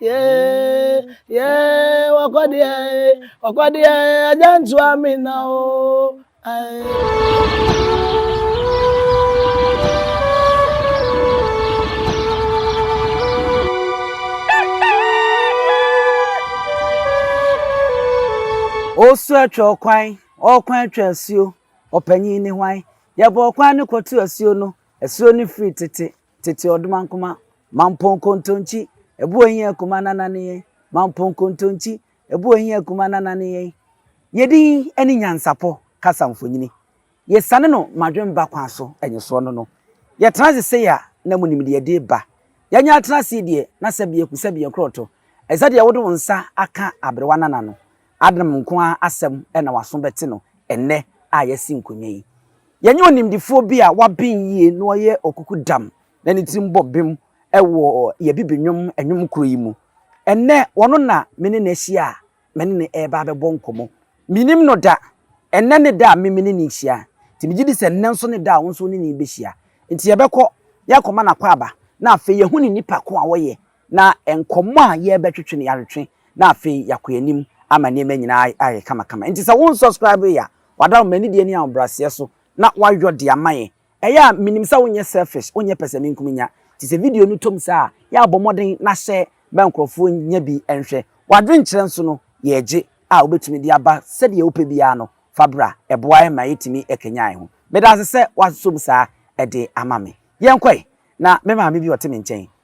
Yeah, yeah, wakodia, wakodia, ajantu amina o. Osu atwa ɔkwan, ɔkwan atwa asuo, ɔpanyin ne hwan? Yɛbɔ ɔkwan no kɔto asuo no, asuo no firi tete, Tete ɔdomankoma, Mampong Kontonkyi, Ebu Ehi Akuma Nana ne yɛn, Mampong Kontonkyi, Ebu Ehi Akuma Nana ne yɛn. Yedin ne nyansapɔ kasa mfonyini. Yesane no madwen ba kwan so nyesoɔ no no. Yɛtena ase sei a na munim deɛ ɛde ba. Yɛanya atena ase yi deɛ na sɛbea eku sɛbea nkorɔto. Ɛsɛ deɛ wode wo nsa aka aberewa nana no Adom nko ara asɛm na w'aso bɛte no ɛnnɛ a yɛasi nkonnwa yi. Yɛanya onimdefoɔ bi a waben yie na ɔyɛ ɔkukudam na ne tirim bɔ bem wɔ yɛn Abibinwom nnwom koro yi mu. Ɛnnɛ, ɔno na me ne no ahyia a me ne no reba abɛbɔ nkɔmmɔ. Mennim no da. Ɛnnɛ ne da a me me ne no rehyia, nti megye di sɛ nnɛ nso ne da a wo nso wo ne no rebɛhyia. Nti yɛbɛkɔ, yɛakɔma no akwaaba, na afei yɛahu ne nipa ko a ɔyɛ Na nkɔmmɔ a yɛrebɛtwetwe no yɛatwetwe na afei yɛakɔ yɛn anim ama nneɛma nyinaa ayɛ kamakama. Enti sɛ wo nsɔskraibe yɛ a, wada wo m'ani deɛ ne ahobrɛaseɛ so na woayɔ de ama yɛn. Ɛyɛ a menim sɛ wonyɛ selfish, wonyɛ pɛsɛmenkominya. Nti sɛ video no tɔ mu saa a, yɛ a bɔ mmɔden na hyɛ ma nkurɔfoɔ nya bi nhwɛ. W'adwenkyerɛ nso no, yɛregye a wobɛtumi de aba sɛdeɛ wopɛ biara no, fa bra. Ɛboa yɛn ma yɛtumi kanyan yɛn ho. Meda ase sɛ woasom saa de ama me. Yɛnkɔ ɛ, na me maame bi a ɔte me nkyɛn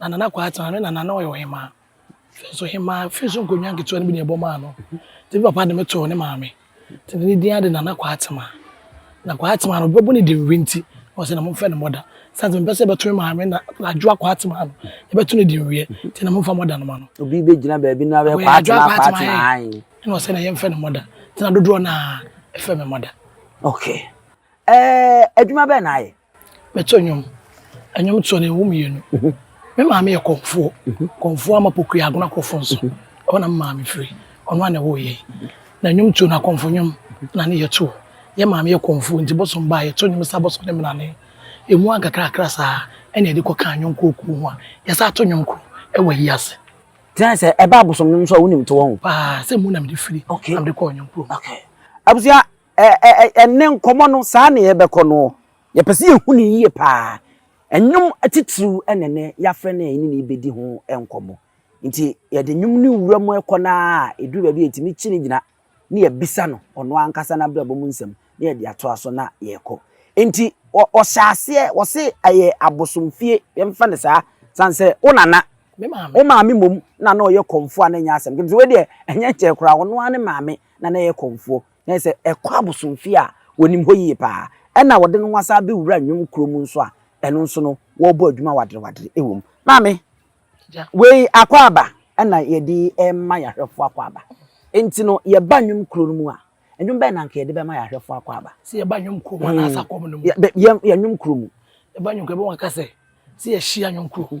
na Nana Kwaa Atena ne Nana na ɔyɛ ɔhemaa. Afei nso ɔhemaa afei nso nkonnwa nketewa no bi na ɛbɔ maa no. Nti papa de me too ne maame. Nti ne din ara de Nana Kwaa Atema. Na Kwaa Atema no, ɔbɛbɔ ne din wi nti, na ɔsɛ na momfɛ no mɔda. Sane sɛ mempɛ sɛ yɛbɛto me maame na Adwoa Kwaa Atema no, yɛbɛto ne din wiɛ, nti na momfa mɔda no ma no. Obi bɛgyina baabi na wabɛyɛ Kwaa Atema, Kwaa Atema ae. Na ɔsɛ na yɛmfɛ no mɔda. Nti na dodoɔ no ara, ɛfɛ me mɔda. Okay. Eh, adwuma bɛn na ayɛ? Meto nnwom. Nnwom toɔ no ɛwɔ mmienu. Mhm. Me maame yɛ kɔmfoɔ. Mhm. Kɔmfoɔ ama pokua agona kɔfo nso. Mhm. Ɛhɔ na me maame firi. Ɔno a na ɛwɔ yɛn. Na nnwom tuo no akɔmfo nnwom na ne yɛtoɔ. Yɛ maame yɛ kɔmfoɔ nti bɔsɔm baa yɛto nnwom sa bɔsɔm ne menane. Ɛmu ankakrakra saa ɛna yɛde kɔ kan yɔnkoɔ kuo ho a yɛsa ato nnwom koro ɛwɔ ayi ase. Tena sɛ ɛbaa bɔsɔm nnwom nso a wonim to wɔn. Paa sɛ mu na mede firi. Okay. Na mede kɔɔ nnwom kurom. Okay. Abusua Ɛnnɛ nkɔmmɔ no, saa na yɛbɛkɔ noɔ. Yɛpɛ sɛ yɛhu no yie pa ara. Nnwom atitiriw na ɛnnɛ yɛafrɛ no a yɛne no rebɛdi ho nkɔmmɔ. Nti yɛde nnwom no wura mu kɔ no ara a, ɛduru baabi a yɛtumi kyi no gyina na yɛbisa no ɔno ankasa n'abrabɔ mu nsɛm na yɛde atoa so na yɛkɔ. Nti wɔhyɛ aseɛ, wɔse ɛyɛ abosomfie, yɛmfa no saa, sane sɛ wo nana, wo maame mmom na na ɔyɛ kɔmfoɔ a na ɛnyɛ asɛm ketewa. Wei deɛ ɛnyɛ nkyɛe koraa, ɔno ara ne maame na na ɛyɛ kɔmfoɔ. na ɛsɛ ɛkɔ abosomfie a wɔnim hɔ yie paa ɛna wɔde no ho asan abɛwura nnwom kuro mu nso a ɛno nso no wɔrebɔ adwuma waderewadere wɔ mu. Maame, wei akwaaba ɛna yɛde ɛma yɛn ahwɛfoɔ akwaaba nti no yɛba nnwom kuro no mu a nnwom bɛn na nka yɛde bɛma yɛn ahwɛfoɔ akwaaba? Sɛ yɛba nnwom kuro mu anaa asakɔm no mu? Yɛ nnwom kuro mu. Yɛba nnwom kuro mu ɛbɛn wɔn aka sɛ sɛ yɛhyia nnwom kuro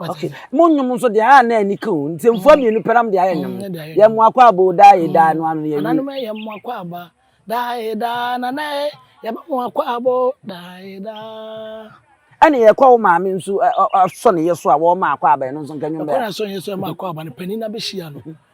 okay mo nnwom nso deɛ a na ani ka o nsɛmfua mmienu pɛrɛ mo deɛ ayɛ nnwom yɛ mo akɔ abo daa yɛ daa no ano yɛ wi ananom yɛ mo akɔ aba daa yɛ daa nana yɛ yɛ mo akɔ abo daa yɛ daa ɛna yɛ kɔ wo maame nso asɔ ne yɛ so a wɔn ma akɔ aba ɛno nso nka nnwom bɛyɛ ɛkɔ na sɔ yɛ so ɛma akɔ aba no panyin na bɛhyia no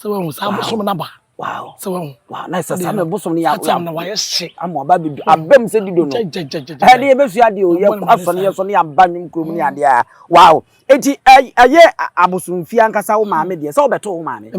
sɛ wahu saa bosom no aba sɛ wahu na ɛsɛ saa na bosom no yɛatam na wayɛ hye ama aba bɛdu abam sɛ dido no ɛde yɛbɛsua deɛ ɔyɛ asɔ no yɛsɔ no yɛaba nwom kurom ne adeɛ a wow enti ɛyɛ abosomfie ankasa wo maame deɛ sɛ wobɛto wo maame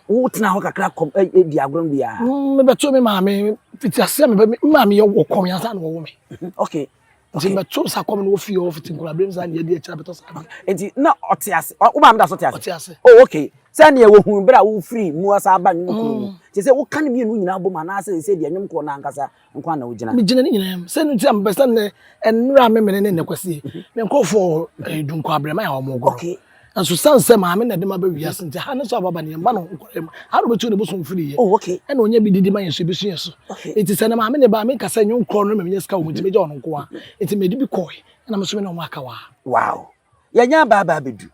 wotena hɔ kakra kɔ di agorɔ no biaa mebɛto me maame fiti aseɛ mebɛ me maame yɛ wɔ kɔm yɛnsa na wɔwo me okay Nti mɛto nsa kɔm na wofi hɔ fiti nkura bere mu saa na yɛde akyira bɛtɔ saa adeɛ. Nti na ɔte ase wo maame da so te ase. Ɔte ase. Oh okay sɛ neɛ wɔhun bere a wofiri mua saa ba nnwom kuro mu te sɛ woka ne mmienu nyinaa bom anaasɛ ɛsɛ deɛ nnwom koro no ankasa nko ana wogyina. Megyina ne nyinaa mu sɛ no nti a mepɛ sɛ nnɛ mmerɛ a memene ne nnɛ kwasie me nkurɔfoɔ dunkɔ abrɛma a wɔn goro. Okay Nanso san sɛ maame na ɛde ma ba wiase nti ha ne sɛ ɔbaba ne yɛn mma no nkɔla mu ha na ɔbɛtu ne bosom mfiri yɛ oh, okay. ɛna ɔnya bi didi ma yɛn so ebesu yɛn so okay. nti sɛ ne maame ne ba menka sɛ nyɛ nkorɔ no mɛmenya sika wɔ mu nti mɛgya ɔno nkoa nti mɛde bi kɔe ɛna me so me ne ɔmo aka waa. Wow yɛnyɛ abaabaa bɛdu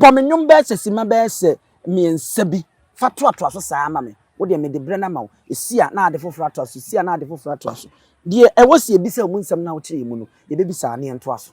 bɔ me nnwom bɛyɛ sɛ sima bɛyɛ sɛ mmiɛnsa bi fa toatoa so saa ama me wo deɛ mede berɛ no ama wo ɛsi a na ade foforɔ atoa so ɛsi a na ade foforɔ atoa so deɛ ɛwɔ sɛ yɛbisa mu nsɛm no a wokyerɛ yɛ mu no yɛbɛbisa na yɛntoa so.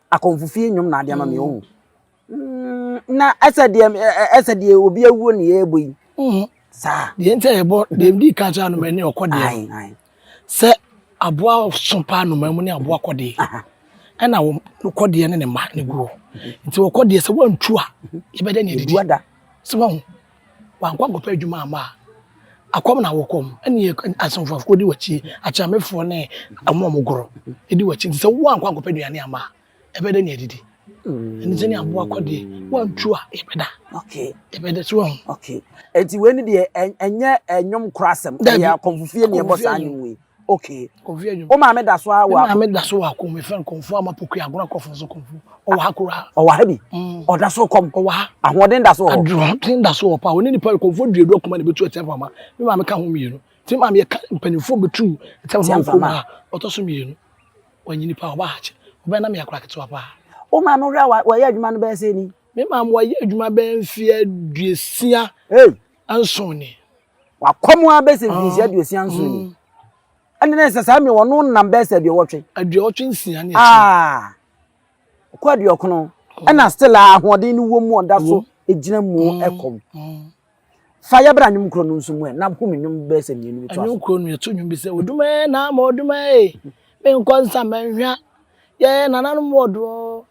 Akɔmfo fie nnwom na ade ama me ohu. Mm, na ɛsɛ deɛ ɛsɛ deɛ obi awuo ne yɛbɔ yi. Mm-hmm. Saa. Deɛ nti a yɛbɔ deɛ di ka kyerɛ anoma ne ɔkɔ deɛ. Sɛ aboa so paa anoma mu ne aboa kɔ deɛ. Ɛna wɔn kɔ deɛ ne ne mma ne guo. Nti wɔkɔ deɛ sɛ wɔntu a yɛbɛda ne adidi. Sɛ wɔn Wankɔ ankɔpɛ adwuma amma a, akɔm na wokɔm ne asomfoɔfoɔ di w'akyi, akyeamefoɔ ne wɔn a wɔgoro di w'akyi. Nti sɛ woankɔ ankɔpɛ aduane amma a, ɛbɛyɛ dɛ ne adidi? Ɛne sɛdeɛ aboa kɔ deɛ, woantu a yɛbɛda. Okay. Yɛbɛda so ahu. Okay. Nti wei ne deɛ ɛnyɛ ɛnwom korɔ asɛm, ɛyɛ akɔmfofie ne ɛbɔ saa nnwom yi. Okay. Kofi Adwuma. Wo maame da so a wɔ. Me maame da so wɔ akɔm efɛn no kɔmfo ama pokua agona kɔfo so kɔmfo. Ɔwɔ ha kura. Ɔwɔ ha bi. Mm. Ɔda so kɔm. Ɔwɔ ha. Ahoɔden da so wɔ. Ahoɔden da so wɔ pa. Ɔne nipa kɔmfo duadu akuma na ebetu ɛtɛn fama. Me maame ka ho mmienu. Ti maame yɛ ka mpanyinfo betu ɛtɛn fama kɔm ha. Ɔtɔ so mmienu. Wɔnyi nipa ɔba ha kyɛ. Ɔbɛn na me akora ketewa pa. Wo maame hwɛ a wɔyɛ adwuma no bɛyɛ sɛ ni. Me maame wɔyɛ adwuma bɛyɛ mfeɛ aduosia. Hey. Nson ni. Wakɔm ara bɛyɛ sɛ mfinhyia aduosia nson ni. Ɛnna na ɛsɛ saa mmerɛ wɔno nam bɛyɛ sɛ aduowɔtwe. Aduowɔtwe nsia ne ɛkyɛ. Ah, ɔkɔ aduokono. Ɛnna still a ahoɔden no wɔ mu ɔda so gyina mu ɛkɔm. Fa yɛ bra nnwom koro no nso mu ɛ na home nnwom bɛyɛ sɛ mmienu bi to aso. Nnwom koro no yɛto nnwom bi sɛ oduma ɛ na ama oduma ɛ menkɔ nsa mɛnhwa yɛ nananom wɔ doɔ.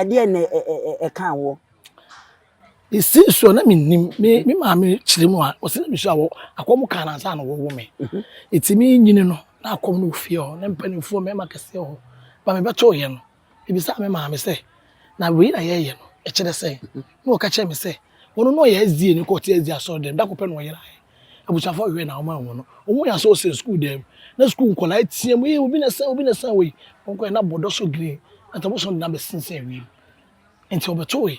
ɛdeɛn na ɛkaa woɔ? Ɛsii soɔ na mennim me me maame kyerɛ mu a ɔsɛ na mesua wɔ akɔm kaa no ansa na wɔwo me ɛti menyini no na akɔm no wɔ fie hɔ na mpanimfoɔ mmarima kɛseɛ wɔ hɔ ba mebɛtooyɛ no mebisaa me maame sɛ na wei na yɛyɛ no ɛkyerɛ sɛn na ɔka kyerɛ me sɛ ɔno na ɔyɛ SDA no kɔ ɔte SDA asɔre dɛm da koro pɛ na ɔyeraeɛ Abusuafo a wɔhwɛ na wɔma wɔn no, wɔn yɛ sɛ wɔsɛn sukuu dan mu. Na sukuu nkwadaa reteam, Ee, obi na ɛsɛn, obi na ɛsɛn wɔ yi. Wɔkɔe na bɔdɔ so green, na tabosom de no abɛsensɛn wiem. Enti wɔbɛtowee.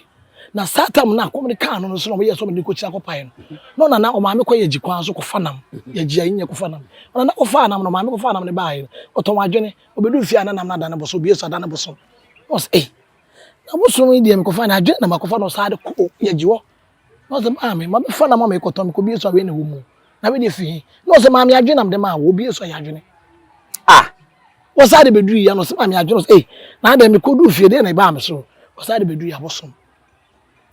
Na saa tam no a kɔm de kaa no no so na wɔyɛɛ sɛ wɔde no rekɔkyia akɔpae no. Na ɔnana, ɔmaame kɔ Yagyi kwan so kɔfa nam. Yagyi a, nyɛ kɔfa nam. Ɔnana kɔfaa nam no, ɔmaame kɔfaa nam no baeɛ no, ɔtɔn wɔn adwene. Ɔbɛduu fie a na nam no adane bosom, ɔbue so a adane bosom. Na ɔse, Ei, na bosom yi deɛ mekɔfae no, adwene na makɔfa na ɔsan de kɔɔ Yagyi hɔ. Na ɔsɛ maame ma bɛfa na ma me kɔtɔ me kɔ bie so awɛ na ɛwɔ mu na wede fi he na ɔsɛ maame adwene nam de maa wɔ bie so ayɛ adwene ah wɔsaa de bɛduru yia na ɔsɛ maame adwene ɔsɛ eh na adɛ me kɔduru fie deɛ na ɛbaa me so wɔsaa de bɛduru yia bosom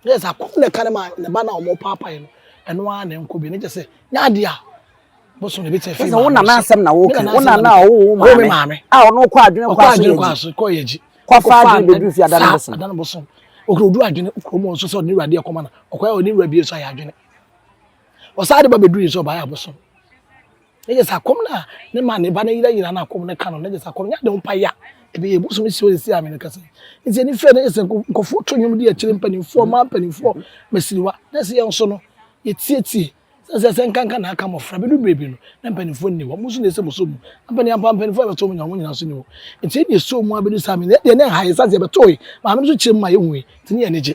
na ɛsɛ akɔm na ɛka ne ma ne ba na ɔmo paapae no ɛno ara na ɛnkɔ bi na kyɛ sɛ nyɛ adeɛ a bosom na ebi tɛ fi maame so wona na asɛm na wɔka wona na ɔwo maame a ɔno kɔ adwene kɔ aso yɛ gyi kɔfa ade bɛduru fie adane bosom adane bosom ɔkura ɔduru adwene ɔkura mu nso sɛ ɔne awurade ɛkɔma no ɔkɔyɛ ɔne awurade yɛ so ayɛ adwene ɔsaa de ba bɛduru yɛ sɛ ɔbaayɛ abosom ne yɛ sɛ akɔm no a ne ma ne ba no yira yira no akɔm no ka no ne yɛ sɛ akɔm no yɛ ade ho pa ya ɛbɛyɛ bosom si ɔyɛ si amene kasa nti ɛni fɛ ne yɛ sɛ nkɔfoɔ to nnwom de akyire mpanimfoɔ maa mpanimfoɔ masiriwa na ɛsɛ yɛn nso no yɛtietie Sɛ sɛ sɛ nkanka na aka mmɔfra bɛdu berɛ bi no na mpanimfoɔ nni hɔ, mo nso na ɛsɛ mosɔ mu. Ampani ampa mpanimfoɔ a ɛbɛsɔ mo nyinaa wɔn nyinaa nso nni hɔ. Nti yɛn deɛ ɛsɔɔ mu ara bɛdu saa mmienu. Yɛn deɛ na ɛha yɛn ɛsiane sɛ yɛbɛtoe maame no so kyerɛ mu ma yɛhuui nti na yɛn ani gye.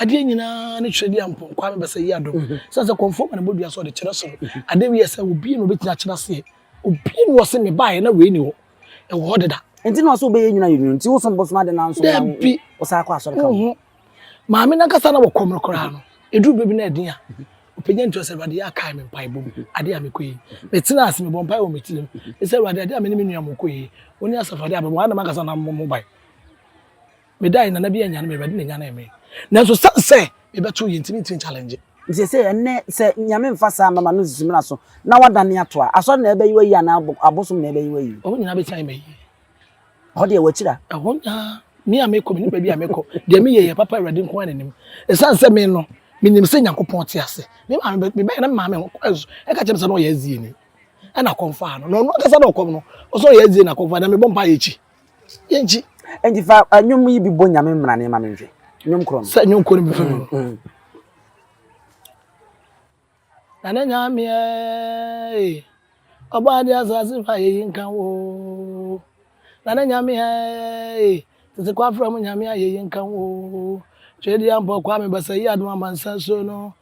Adeɛ nyinaa ne twerɛ di ampɔn Kwame Basa Yiadom sɛ sɛ kɔmfoɔ ma ne bɔdua so ɔde kyerɛ soro Adeɛ wei ɛsɛ obie na obɛtumi akyerɛ aseɛ Obie na ɔse me baeɛ na wei ni hɔ Ɛwɔ hɔ deda Nti na ɔse obɛyɛ nyina yɛ nwunu Nti wo som bosom ade na nso na wo saa kɔ asɔre ka ho Maame no ankasa na wɔ kɔm no koraa no Ɛduru berɛ bi na ɛden a ɔpagya ntua sɛ Awurade yɛ kae me mpaebɔ mu adeɛ a mekɔ yi Me tena ase mebɔ mpaeɛ wɔ me tirim Me sɛ Awurade adeɛ a me ne me nua mokɔ yi Wo ne Asafo adeɛ a mebɔ Ɛha na mankasa na mebɔ ho ban Medae na na bi anyane me, Awurade na ɛnyanee me. Nanso sane sɛ mebɛtoo yei nti, mentumi nchallenge. Nti seesei ɛnnɛ, sɛ Nyame mfa saa mmɛma no nsusu mmena so, na woadane ato a, Asɔre na ɛbɛyi wo ayi anaa abosom na ɛbɛyi wo ayi? Wɔn nyinaa bɛsan ayi me ayie. Ɛhɔ deɛ wɔakyiri a. Ɛhɔ nyaa me a mekɔ, menim baabi a mekɔ. Deɛ meyɛ yɛ papa, Awurade nko ara na nim. Ɛsiane sɛ me no, menim sɛ Nyankopɔn te ase. Me maame, mebɛyɛ na me maame ho kɔɛ so, ɛka kyerɛ me sɛ na ɔyɛ azieni. Ɛna kɔm faa no, na ɔno ankasa na ɔkɔm no, ɔsɛ ɔyɛ azieni na kɔm faa no, na mebɔ mpaeɛ akyi. yɛnkyi. Enti fa nnwom yi bi bɔ Nyame mmrane ma menhwɛ. Nnwom korɔ no. Sɛ nnwom korɔ no bi fa mu. Mm, mm. Na ne Nyame ee, ɔbɔ ade asase fa yɛyi nka wo. Na ne Nyame ee, tete kwafra mu Nyame a yɛyi nka wo. Twedeɛ mpɔ Kwame Basayi Adom Amansan Suo no.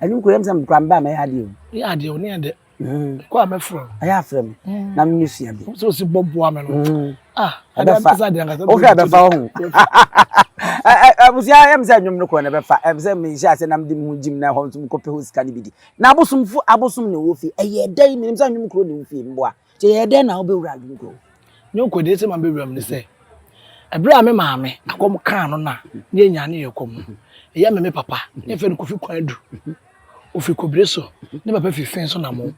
ɛno nkura yɛm sɛ mekura mba mɛyɛ adeɛ o yɛ adeɛ o ne yɛ dɛ kɔ a mɛfrɛ no ɛyɛ afrɛ me na menyɛ sua bi sɛ ɔsi bɔ boa me no ɛbɛfa wohwɛ ɛbɛfa wo ho abusua yɛm sɛ nnwom no kɔ na ɛbɛfa ɛm sɛ mehyɛ ase na mede me ho gyim na ɛhɔ nso mekɔpɛ hɔ sika no bi di na abosomfo abosom ne wɔ fie ɛyɛ dɛn menim sɛ nnwom kuro ne wo fie mboa Nti ɛyɛɛ dɛn na wobɛwuraa Ludo? Ne nkodeɛ sɛ mabɛwura mu ne sɛ, ɛberɛ a me maame akɔm kaa no na ne yɛnyaa ne yɛɛ kɔm no, ɛyɛ me me papa, ne yɛfrɛ no Kofi Kwan Adu. Ɔfiri Kobire so, ne papa firi Fee so Namo.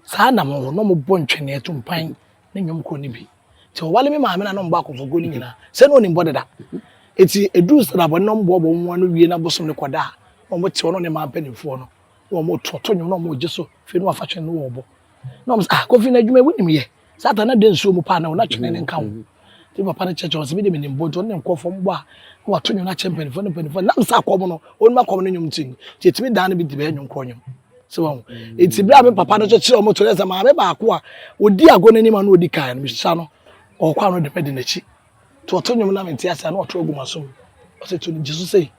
Saa Namo hɔ, na wɔbɔ ntwɛneɛ, tumpan, ne nnwom korɔ no bi. Nti ɔwale me maame na na wɔbɔ akɔmfokuo no nyinaa. Sɛ na ɔnim bɔ deda. Nti ɛduru Srabɔ no na wɔboaboa wɔn ho ano wie na bosom no kɔda a, na wɔte hɔ na wɔne mmaa mpanimfoɔ no na wɔn tototo nwom na wɔn gye so fei na wɔn afa twene no wɔn bo na wɔn sɛ ah kofi na adwuma wunim yɛ saa ta na de nsuo mu paa na wɔn na twene ne nka ho ti papa no kyerɛkyerɛ wɔn sɛ bi de mi nim bɔ nti wɔn ne nkɔfɔ mbɔ a na wɔato nwom akyɛ mpanyinfoɔ ne mpanyinfoɔ nam sɛ akɔm no wɔn mu akɔm no nwom ti ti etimi dan no bi di bɛyɛ nwom korɔ nwom sɛ wɔn eti bere a mi papa no nso kyerɛ wɔn to ne sɛ maame baako a odi agorɔ n'anim a na odi kan no mi sisa no ɔkɔ ano de mɛ de n'akyi To ɔto nnwom na mente ase a, na ɔto agu m'asom. Ɔsɛ to no, gye so sei.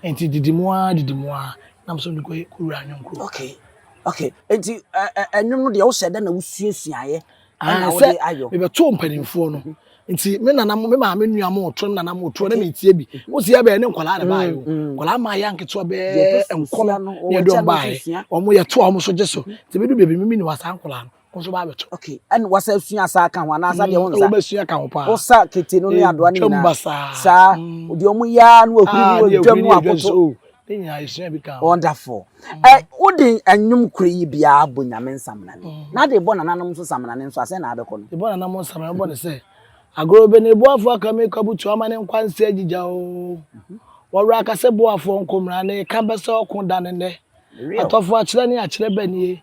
Enti didi mu ara didi mu ara na mesɛ mede kɔyɛ kɔwura anwom kurom. Okay. Okay. Enti ɛnwom no deɛ wohyɛ dɛ na wosuasuaeɛ ɛna wode ayɔ. Sɛ mebɛtoo mpanimfoɔ no. Mhm. Nti me nana me maame nua mo ɔto me nana mo ɔto na metie bi. Wo sɛ yɛbɛyɛ ne nkwadaa na baayɛ o. Nkwadaa maa yɛ anketewa bɛɛ nkɔnɔ ne ɛde wɔn baayɛ. Wɔn yɛtoa wɔn so gye so. Nti medu baabi no mimi ne wɔ saa nkwadaa no. Wo nso w'awekyɛ. Okay, ɛn wasa sua saa ka ho anaasa deɛ wo nsa. Wo sua ka ho paa. Wo sa kete no ne adoa ne nyinaa. Twam basaa. Saa, deɛ ɔmo yɛ ara no ahuri mu adwa mu akoto. Ne nyinaa esua bi ka ho. Wonderful. Ɛ wo de ɛnwom koro yi biara bɔ nyame nsamena ni. Na de bɔ nananom nso samena ne nso asɛn na abɛkɔ no. De bɔ nananom nsamena no bɔ ne sɛ. Agorɔ bɛ ne boafo aka me kwa butu ama ne nkwa nsa agyigya o. Wɔwerɛ aka sɛ boafoɔ nko mmra na eka bɛ sɛ ɔko da ne nnɛ. Atɔfo akyerɛ ne akyerɛ bɛ nie.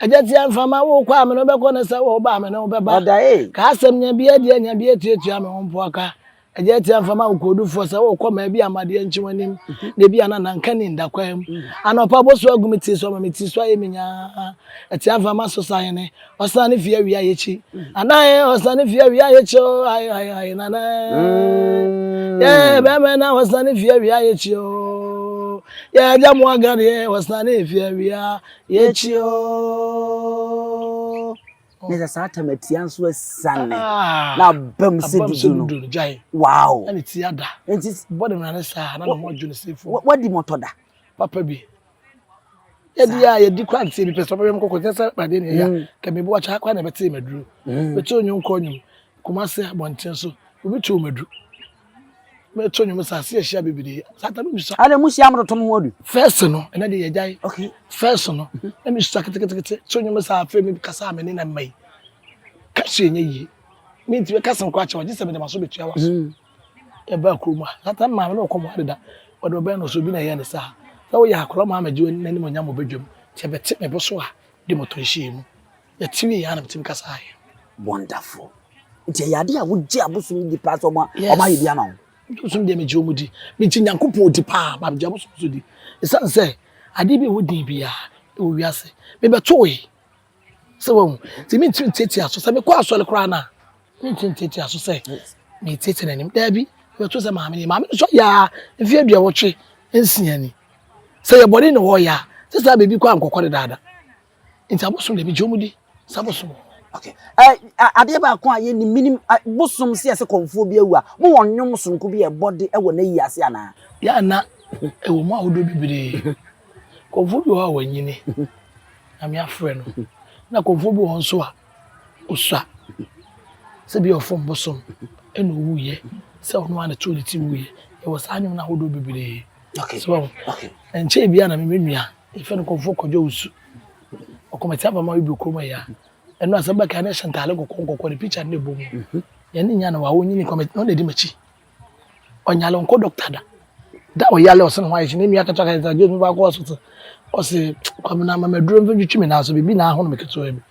Agya tia mframa wo kɔ a me ne wo bɛkɔ ne sɛ wo ba a me ne wo bɛba. Ka asɛm nya bi adiɛ nya bi atuatua me ho mpo aka. Agya tia mframa wo koodufoɔ sɛ wo kɔ ma ebi ama adeɛ nkye w'anim na ebi a na na nka ni nda kwan mu. Anɔpa bɔ so agu me tiri so ama me tiri so ayɛ me nyaa. Ɛtia mframa so sahene ɔsan ne fie awia yekyi anaa eh ɔsan ne fie awia yekyi o ae ae ae nana eh yeah bɛmɛ na ɔsan ne fie awia yekyi o yeah agya mo agade eh ɔsan ne fie awia Yɛkyi oo. Ne sɛ saa tam atia nso asiane na abam sɛ dudu no wow ɛne ti ada nti bɔ ne mmara ne saa na ne ho adwo ne sefo wadi mɔtɔ da papa bi yɛdi a yɛdi kora nti ebi pɛ sɛ ɔbɛyɛ mkɔkɔ sɛ sɛ pade ne ɛyɛ ka mebi wakya akora na ɛbɛte maduro bɛte onyo nkɔ nyom kuma sɛ abɔnten so obi to maduro mɛto nnwom saa se ahyia bebree saa ta mebusa ɛna mu hyia morotom ho adu fɛs no ɛna de yɛgyae okay fɛs no mhm. na mesusa ketekete to nnwom saa afei mekasa me ne na mma yi ka so ɛnyɛ yie mentumi ka sɛm korakyɛ wɔgye sɛ mede maso bɛtua wa so mhm. ɛbaa kurom a saa ta maame ne ɔkɔ mo adeda wɔde ɔbɛn no so bi na ɛyɛ ne saa sɛ woyɛ akora ma amagye n'anim ɔnya mɔ badwam kyɛ bɛte mebo so a de mɔtɔ nhyia mu Yɛte me yie a na metumi kasa ayɛ. Wonderful. Nti ɛyɛ adeɛ a wogye abosom no di paa sɛ ɔmo ayɛ bi ama wo? Abosom deɛ megye ɔmo di. Megye Nyankopɔn odi paa but megye abosom nso di. Ɛsiane sɛ adeɛ bi a ɛwɔ din biara wɔ wiase mebɛtowee. Sɛ wahu? Nti mentumi ntiatia so sɛ mekɔ asɔre koraa no a mentumi ntiatia so sɛ metiatia n'anim. Daabi, mebɛto sɛ maame no maame no sɔ yaa mfeɛ aduɔwɔtwe nsia ni. Sɛ yɛ bɔne na wɔyɛ a sɛ saa baabi kɔ a nkɔkɔ dedaada. Nti abosom deɛ megye wɔn di sɛ abosom. Okay. Eh, adeɛ baako a yɛnim menim bosom sɛ yɛsɛ kɔmfoɔ bi awu a mo wɔ nnwom sononko bi a ɛbɔ de wɔ n'ayi ase anaa? Yɛ ana ɛwɔ mu ahodoɔ bebree. Kɔmfoɔ bi wɔ hɔ a wanyini na me afrɛ no na kɔmfoɔ bi wɔ hɔ nso a ɔsua sɛ bi ɔfom bosom ɛna ɔwuiɛ sɛ ɔno a na too ne ti wuiɛ yɛwɔ saa nnwom no ahodoɔ bebree. Okay. So, okay. Nkyɛn bi a na me menua Yɛfrɛ no Kɔmfoɔ Kwadwo Owusu. Ɔkɔmɛtse abamma bi bɔ kurom ha yi a, ɛno asɛm bɛka a na ɛhyɛ ntaade kɔkɔɔ nkɔkɔɔ, ne picture no na ɛbɔ mu. Yɛne no nyaa no wɔ ha, ɔnyinii kɔmɛtse na ɔno na ɛdi m'akyi. Ɔnyare, ɔnkɔ doctor da. Da a ɔyare a ɔse ne ho ayɛ hye, ne nua ketewa ka kyerɛ no sɛ, James, mekɔ akɔ hospital. Ɔse, Kwabena, ma me aduro mfa ntwitwi me nan so, biribi na ahono me ketewaa bi.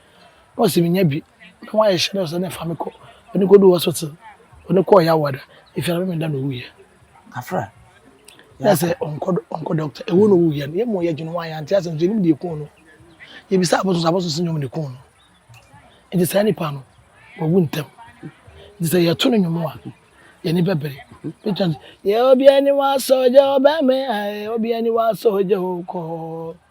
na ɔse menya bi na wayɛ hyɛ no sɛ ne fa me kɔ ɔne kɔdu hospital ɔne kɔɔ yawa da ɛfiri na memeda na ɔwuiɛ afra na sɛ ɔnkɔ doctor ɛwɔ na ɔwuiɛ no yɛmmɔ yɛ dwene ho ayɛ ante asɛm sɛ ɛnim deɛ kuu no yɛbisa abɔso sɛ abɔso sɛ nyɔm ne kuu no ɛnti saa nipa no wawu ntɛm ɛnti sɛ yɛto no nwom a yɛne bɛbere yɛ obiani wasɔgya ɔbɛme ae obiani wasɔgya okɔ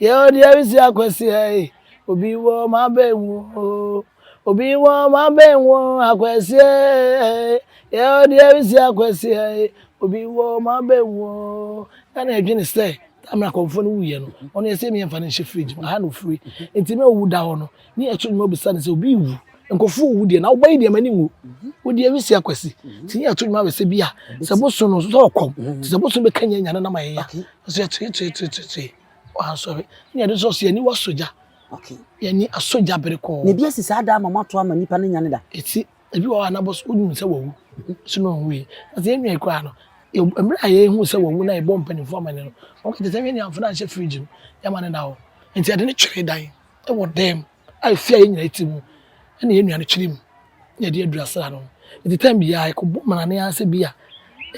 Yɛ ɔ deɛ resi akwasi ɛ e. Obi wɔ ma bɛn wo o. Obi wɔ ma bɛn wo akwasi ɛ e. Yɛ ɔ deɛ resi akwasi ɛ e. Obi wɔ ma bɛn wo o. Na na ɛdwene sɛ time na akɔmfoɔ no wuiɛ no ɔno yɛsɛ yɛmfa no nhyɛ fridge mu aha na ɔfiri nti na ɔwu da hɔ no. ne ɛto nnwuma bisa no sɛ obi wu nkɔfo wu deɛ na wobɛyi deɛ m'ani nwu wo deɛ wisi akwasi nti ne ɛto nnwuma bɛsɛ bi a sɛ boso no sɛ ɔkɔm nti sɛ boso bɛka nyɛ nyane na ma yɛya sɛ yɛtoetoetoetoe ɔhansɔre ne ɛde sɛ ɔsɛ yɛni wasogya yɛni asogya bere kɔɔ na ebi asi saa daa ma moato ama nnipa ne nyane da ɛti ebi wɔ hɔ a na boso wonim sɛ wawu so na ɔnwui na sɛ yɛnwia koraa no mmerɛ a yɛhu sɛ wawu na yɛbɔ mpanimfoɔ amane no wɔkɛkyɛ sɛ hwɛ ne amfa no anhyɛ fridge no yɛma no da hɔ nti ɛde ne twere dan wɔ dan mu a efi a yɛn nyinaa te mu na yɛn nua no kyerɛ mu na yɛde adura sra no. Enti tan biara yɛkɔbɔ mmrane ara sɛ bi a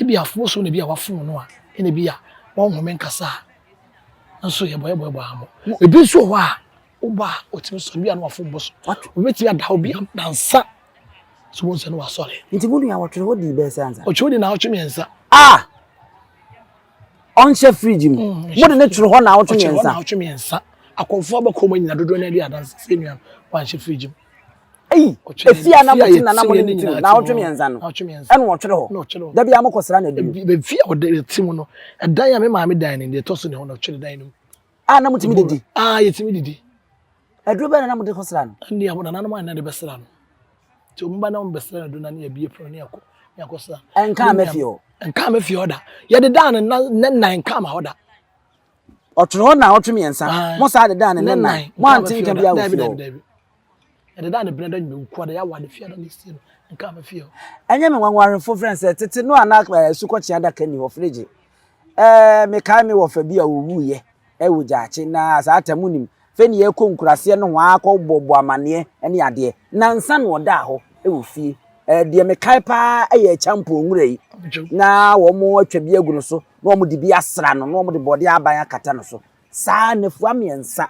ebi afobo so na ebi a wafom no a ɛna ebi a wɔnhome nkasa a nso yɛbɔ yɛbɔ yɛbɔ ara mo. Ebi nso wɔ hɔ a wobɔ a otumi sɔre bi a na wafom bɔ so. Obetumi ada hɔ bi a nansa so wɔn nsa no wasɔre. Nti mo nua wɔtwere hɔ dii bɛyɛ sɛ ansa. Ɔtwere hɔ dii naawɔtwe mmiɛnsa. Ah! ɔnhyɛ fridge mu mo de ne toro hɔ na awɔtwe mmiɛnsa ɔtwe hɔ na awɔtwe mmiɛnsa akɔnfo abɛkɔ mu nyina dodoɔ n'adi adansi sɛ nua wanhyɛ fridge mu eyi efi a na mo ti nana mo ne ne ti mu na awɔtwe mmiɛnsa no ɛna ɔtwere hɔ dabi a mo kɔ sra na adi mu ebi fi a ɔde ti mu no ɛdan a me maame dan ne deɛ ɛtɔ so ne hɔ na ɔtwere dan no mu a na motumi didi a yɛtumi didi aduro bɛɛ na na mode kɔsra no ɛnde a monananom a na de bɛsra no nti ɔmo ba na ɔmo bɛsra no aduro na ne abie pono ne akɔ ne akɔsra ɛnkaa mɛfie hɔ ɛnkaa mɛfie hɔ da yɛde daa ne nan ne nan ɛnkaa ma hɔ da ɔtwere hɔ na ɔtwe mmiɛnsa mo saa de daa ne nan mo ante nka bi awɔ fie hɔ Ɛdeda a ne bena da nyina wukua da yɛ awa ne fie ada ne sie no nka me fie hɔ. Ɛnyɛ me nwanwarefo frɛ sɛ tete no a na asukɔkye adaka ni hɔ frigye. Ɛɛ mekae me wɔfa bi a owu yɛ ɛwɔ gyaakye na saa ta mu nim. Fɛ ne yɛ kɔ nkuraseɛ no ho akɔ bɔ bɔ amaneɛ ɛne adeɛ. Na nsa na ɔdaa hɔ ɛwɔ fie. Ɛɛ deɛ mekae paa ɛyɛ ɛkyampɔn nwura yi. Na wɔn atwa bi agu no so na wɔn de bi asra no na wɔn de bɔdeɛ aban akata no so. Saa nafua miɛnsa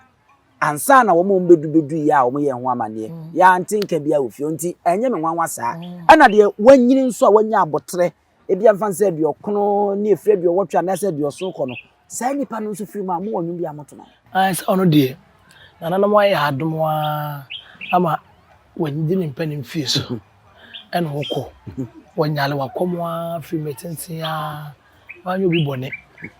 Ansa na wɔn a wɔbɛdu bɛdu yi a wɔyɛɛ ho amanneɛ, yɛante nka biara wɔ fie hɔ nti, ɛnyɛ me nwanwa saa. Ɛna deɛ wanyini nso a wanya aboterɛ, ebia mfa no sɛ aduɔkron ne ɛfiri aduɔwɔtwe anaasɛ aduɔson kɔ no, saa nnipa no nso firi mu a, mowɔ nnwom bi a moto ma no? Aane, sɛ ɔno deɛ, nananom ayɛ adom ara ama wadi ne mpa ne mfeɛ so, ɛna ɔkɔ, wanyare wakɔm ara firi mmerɛ tenten ara wanyɛ obi bɔne.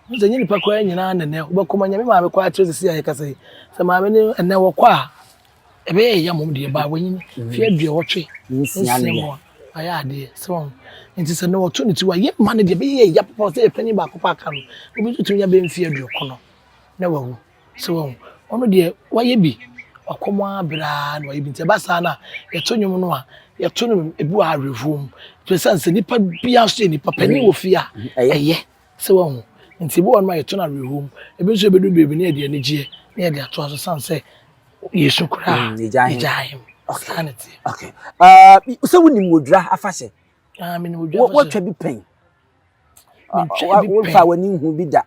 Wohu sɛ ɛnyɛ nnipa koraa nyinaa na ɛnnɛ wobɛkɔ ma Nyame maame kɔ akyerɛ sɛsi a yɛkasa yi. Sɛ maame no ɛnnɛ wɔkɔ a, ɛbɛyɛ yɛyɛ mmom deɛ baa wanyin mfe aduɔwɔtwe nsia ne mu a wayɛ adeɛ. So wɔn nti sɛ na wɔto ne ti wayɛ ma no deɛ ɛbɛyɛ yɛyɛ papa sɛ yɛ panyin baako pɛ aka no. Obi nso tumi nya bɛyɛ mfe aduɔkron na wawu. So wahu? Ɔno deɛ wayɛ bi, wakɔ mu ara berɛ ara na wayɛ bi. Nti ɛba saa no a, yɛto nnwom no a, yɛto no ebi wɔ awerɛhoɔ mu. Ɛsiane sɛ nipa biara nso yɛ nipa pɛ, ne wɔ fie a, ɛyɛ. So wahu? Nti ebi wɔ hɔ nom a yɛto no awerɛhoɔ mu. Ebi nso ɛbɛduru baabi no na yɛde anigyeɛ na yɛde atoa so ɛsiane sɛ yɛresu koraa a, yɛgyae hem. Saa na ɛteɛ. Okay. Uh, sɛ wonim Odwira afahyɛ? Ah, menim Odwira afahyɛ. Wɔtwa bi pɛn? womfa w'ani nhu bi da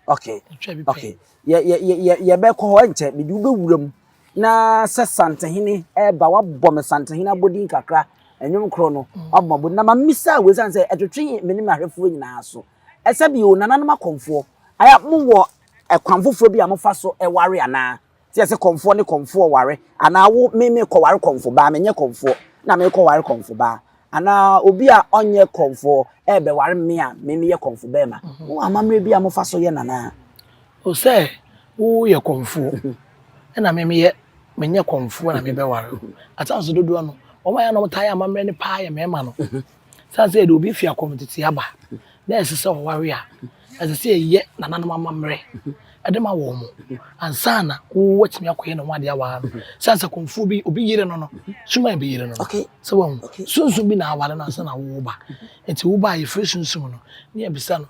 okay okay yɛbɛkɔ hɔ nkyɛ mede wobɛwura mu na sɛ santehene ɛba wabɔ me santehene abɔdin kakra ɛnwom korɔ no wabɔ mabɔ na mamisa a wɔsiane sɛ ɛtwetwe me ne mahwɛfoɔ nyinaa so ɛsɛ bio nananom akɔmfoɔ ayɛ mowɔ ɛkwan foforɔ bi a mofa so ɛware anaa Te yɛ sɛ kɔmfoɔ ne kɔmfoɔ ware, anaa wo me me kɔware kɔmfo baa, menyɛ kɔmfoɔ na me kɔ ware kɔmfo baa, anaa obi a ɔnyɛ kɔmfoɔ ɛɛbɛ ware me a me me yɛ kɔmfo bɛɛma. Mhm. Wo amammerɛ bi a mo fa so yɛ nana. O sɛ wo yɛ kɔmfoɔ mhm. ɛna me me yɛ me nyɛ kɔmfoɔ na me bɛ ware. Atanso dodoɔ no wɔn a yɛ na wɔn taa yɛ amammerɛ ne paa yɛ mɛɛma no. Mhm. San sɛ yɛde obi fi akɔm tete aba na ɛsɛ sɛ ɔware a, ɛsɛ sɛ yɛyɛ nananom amammerɛ de ma wɔn ansa na wɔatumi akɔyɛ ne ho adeɛ awaa no. San sɛ kɔmfoɔ bi obi yere no no suma bi yere no no sɛ wɔn sunsun bi na aware no ansa na wɔwɔ ba nti wo ba a yɛfiri sunsun no ne yɛbisa no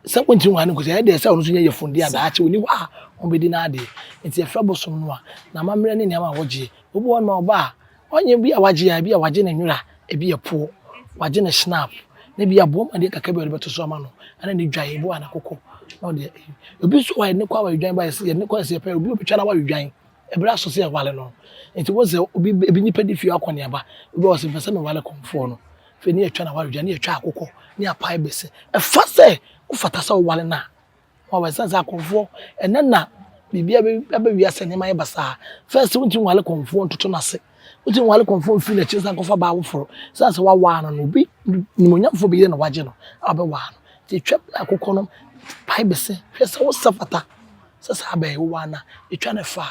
sɛ wɔntumi wɔn ano nkosi ɛyɛ deɛ sɛ ɔno nso nyɛ yɛfun di adaakye wɔn ni hɔ a wɔbɛdi n'adeɛ nti yɛfrɛ bosom no a n'amammerɛ ne nneɛma a wɔgyeɛ obi wɔn ma ɔba a ɔnyɛ bi a wagye a ebi a wagye ne nwera ebi yɛ poɔ wagye ne snap na ebi aboa mu adeɛ kakra bi a ɔde bɛto so ama no ɛna ne dwan ebi wɔ ana koko na ɔde obi nso wɔ ne kɔ awa dwan ba yɛsi yɛ ne kɔ yɛsi yɛ pɛ obi obi twa na awa dwan ebere aso sɛ ɛwale no nti wɔn sɛ obi ebi nipa di fie akɔ ne aba obi wɔ sɛ nfɛ sɛ ne wale kɔnfoɔ no fɛ ne yɛ twa na awa dwan ne yɛ twa akoko ne apa ebese ɛfa sɛ wofata sɛ ɔwale na Wow ɛsane sɛ akɔmfoɔ ɛnɛ na biribiara bɛ aba wiase nneɛma ayɛ basaa first wontumi nwale kɔmfoɔ ntoto n'ase wontumi nwale kɔmfoɔ mfiri n'akyi nsan kɔfa baa woforo sane sɛ wawaa no no obi nimonyamfoɔ bɛyere na wagye no a wobɛwaa no nti twa berɛ a kokɔ no pae bɛse hwɛ sɛ wo sɛ fata sɛ saa bɛn wowaa no a twa no fa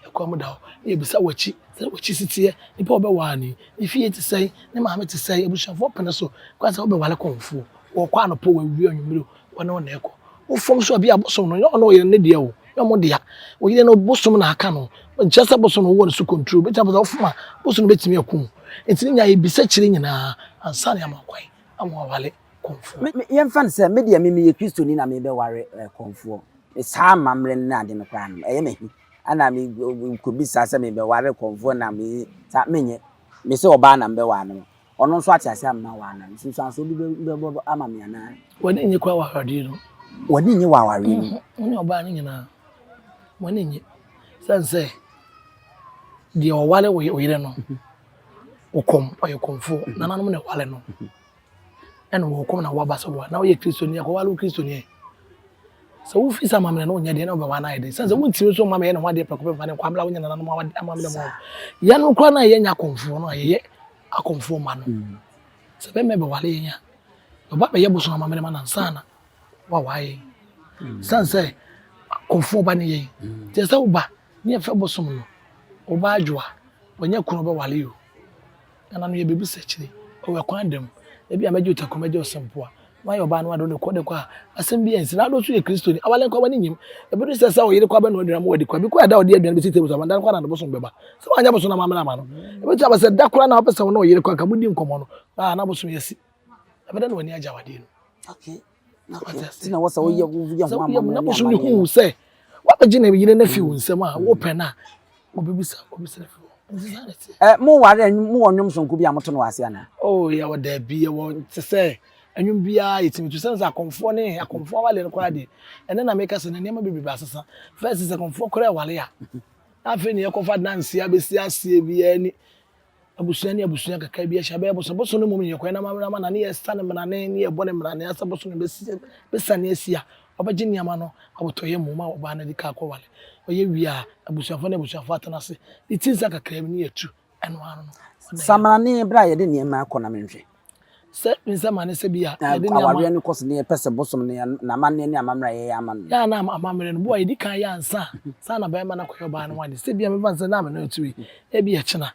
a ɛkwan mu da hɔ na yɛbisa w'akyi sɛ w'akyi si teɛ nipa a wobɛwaa no yi ne fie te sɛn ne maame te sɛn abusuafoɔ pene so kwan sɛ wobɛwale kɔmfoɔ wɔkɔ anɔpa wɔawie anwummere Wo ne wɔn na ɛkɔ. Wo fam nso ɛbia bosom no nyɛ ɔno ɔyɛ ne deɛ o, nyɛ wɔn dea. Wo yere no bosom na aka no. Nkyerɛ sɛ bosom no wɔ ne so control. Bɛtumi aba sɛ ɔfom a bosom no bɛtumi aku wo. Nti ne nyae bisa kyire nyinaa ansa ne ama kwan ama wawale kɔmfoɔ. Me, yɛmfa no sɛ me deɛ me meyɛ Kristoni na me bɛware eh, kɔmfoɔ. Me saa amammerɛ no ne ade no koraa no ɛyɛ me he? Ana me kɔbisa sɛ me bɛware kɔmfoɔ na me saa, menyɛ. Me sɛ ɔbaa na me bɛware no. Ɔno nso ate ase ama wo anaa? Nsunsuansoɔ bi bɛbɔ ama me anaa? W'ani nnye kɔ awareɛ no. W'ani nnye wɔ awareɛ no. Wo ne ɔbaa no nyinaa w'ani nnye sɛn sɛ deɛ ɔwale wo yere no ɔkɔm ɔyɛ kɔmfoɔ mm-hmm. nananom na ɛwale no mm-hmm. ɛna wɔkɔm na wɔaba so boa na woyɛ kristoni akɔwale wo kristoni Sɛ wofi sɛ amammerɛ no nyɛ deɛ na wobɛwa no ayɛ den sɛ sɛ wontumi nso mma mɛyɛ ne ho adeɛ prɛko pɛ mfa ne nkwa mmra wo nyɛ nananom amammerɛ mu yɛn no koraa no a yɛnyɛ akɔmfoɔ no a yɛyɛ akɔmfoɔ ma no mm. sɛ bɛmɛ bɛwale yɛn a ɔba bɛyɛ bosom amammerɛ ma no ansa na wawa yɛn mm. sane sɛ akɔmfoɔ ba ne yɛn mm. nti sɛ woba ne yɛfɛ bosom no woba adwoa wɔnyɛ kunu bɛwale o Nana no yɛ biribi sɛ akyire ɔwɔ ɛkwan da mu ebi a mɛgye ɔtakuro mɛgye ɔsɛmpoa na wayɛ ɔbaa no ade ɔde kɔ ɔde kɔ a asɛm bi ɛnsi na ado nso yɛ kristoni awale nkɔ wani nyim ebi no sɛ sɛ ɔyere kɔ abɛn na ɔdwira mu wadi kɔ ebi kɔ ɛda ɔde aduane bɛsi table so abanda no kɔ na ade bosom bɛba sɛ wanyɛ bosom na maame na ama no ebi nso abɛsɛ da koraa na wapɛ sɛ wɔn na ɔyere kɔ anka mudi nkɔmɔ no na bosom yɛ si ɛbɛda na wani agye awadeɛ no. Okay. na wɔsɛ woyɛ woyɛ ho ama na bosom no hu sɛ wabɛgye ne yere no afi wo nsam a wopɛ no a wɔbɛbisa wɔbɛsɛ afi hɔ ɛ mo ware mo wɔ nnwom sonko bi a moto no wɔ ase anaa o yɛwɔ daabi yɛwɔ te sɛ nnwom biara yɛtumi to sɛne sɛ akɔmfoɔ ne akɔmfoɔ awale no koraa deɛ ɛnɛ na meka sɛ na nneɛma bebrebe asesa fɛs sɛ akɔmfoɔ koraa wale a na afei ne yɛkɔfa danseɛ abɛsi aseɛ biara ni Abusua ne abusua kakra bi ahyia bɛyɛ boso boso no mmom yɛ kwan na ma mmerama na ne yɛ sa ne mmerane ne yɛ bɔ ne mmerane asa boso no bɛ si bɛ sa ne asia ɔbɛ gye nneɛma no abotɔ yɛ mmom a ɔbaa no de kaa kɔ wale ɔyɛ wie a abusuafo ne abusuafo atena ase ne ti nsa kakra bi ne yɛ tu ɛno ano no. Sa mmerane bere a yɛde nneɛma kɔ na menhwɛ Sɛ me nsɛmma ne sɛ bi a yɛde nneɛma. Awareɛ no kɔ so ne yɛn pɛ sɛ bosom ne yɛn na amanneɛ ne amammerɛ a yɛyɛ ama no. Yɛ a na amammerɛ no bo a yɛdi kan yɛ ansa saa na bɛrima no akɔyɛ ɔbaa no ho adeɛ sɛ bi a mɛfa no sɛ na me no ɛto yi ebi a ɛkyena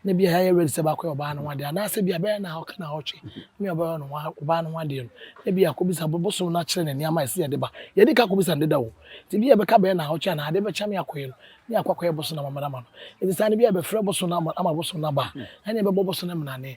na bi a yɛayɛ ready sɛ bɛakɔyɛ ɔbaa no ho adeɛ anaasɛ bi a bɛyɛ na ɔka na ɔtwe me a ɔbɛyɛ no ho ɔbaa no ho adeɛ no na bi a kɔbisa bosom no akyerɛ ne nneɛma a ɛsɛ yɛde ba yɛdi ka kɔbisa no deda o nti bi a bɛka bɛyɛ na ɔtwe anaa adeɛ bɛkyɛ me akɔyɛ no ne akɔ akɔyɛ bosom no amammerɛ ama no nti saa no bi a bɛfrɛ bosom no ama bosom no aba ɛne bɛbɔ bosom no mmanane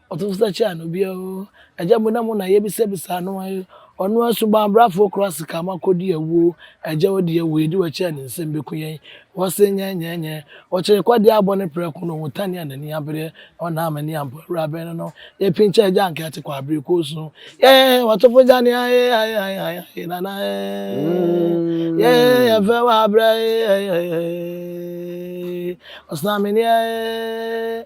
Ɔto so sɛ kyɛa no bia oo. Agya mu na mo na yɛbisa bisa ano a ee. Ɔno ara suban abrafo okura asika ma kodi awuo oo. Agya odi awuo yɛdi w'akyi a ne nsam beku yɛn. Wɔse nyɛ nyɛ nyɛ. Ɔkyere kɔdeɛ abɔ ne prɛko na ohu tane a n'ani abereɛ. Ɔnna ama ani ampo awura bɛn no no. Yɛpinkyɛ agya anka yɛte kɔ abere kɔ osu. Yɛɛ wɔtofo gya ne ae ae ae ae ae nana eeii. Yɛɛ yɛfɛ wɔ abrɛ eeii eeii eeii. Ɔsena me nie eeii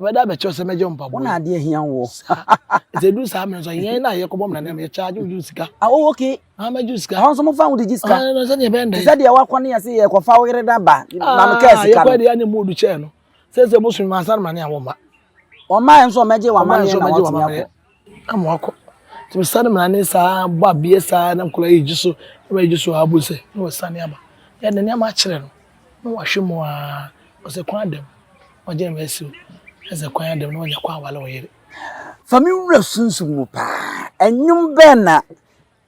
Ɔbɛda abɛkyerɛ sɛ mɛgye mpaboa. Wo na adeɛ ahia wo. Sɛ du saa mmerɛ nso yɛn na yɛkɔbɔ mmara no yɛ charge wo sika. Ah oh okay. Ah mɛgye wo sika. Wɔn nso mo fa wo de gye sika. Ah no sɛdeɛ bɛn dɛ. Sɛdeɛ wakɔ ne yɛse yɛkɔfa wo yere da ba. Na no kaa sika no. Ah yɛkɔ deɛ ne mu odu kyɛɛ no. Sɛ sɛ mo sumi ma asan ma ne a wɔn ma. Wɔn ma nso wɔn mɛgye wɔn amaneɛ na wɔn atumi akɔ. na mo akɔ nti me sane mena ne saa bɔ abeɛ saa na nkɔla yi gye so na ɔma gye so aa bohu sɛ na wasane aba yɛ de nneɛma akyerɛ no na wahwɛ mu aa ɔsɛ kwan ada mu ɔgyina me asi o ɛsɛ kwan ada mu na wanya kɔ awale ɔyere. Fa me wura sunsum mu paa. Ɛnwom bɛn na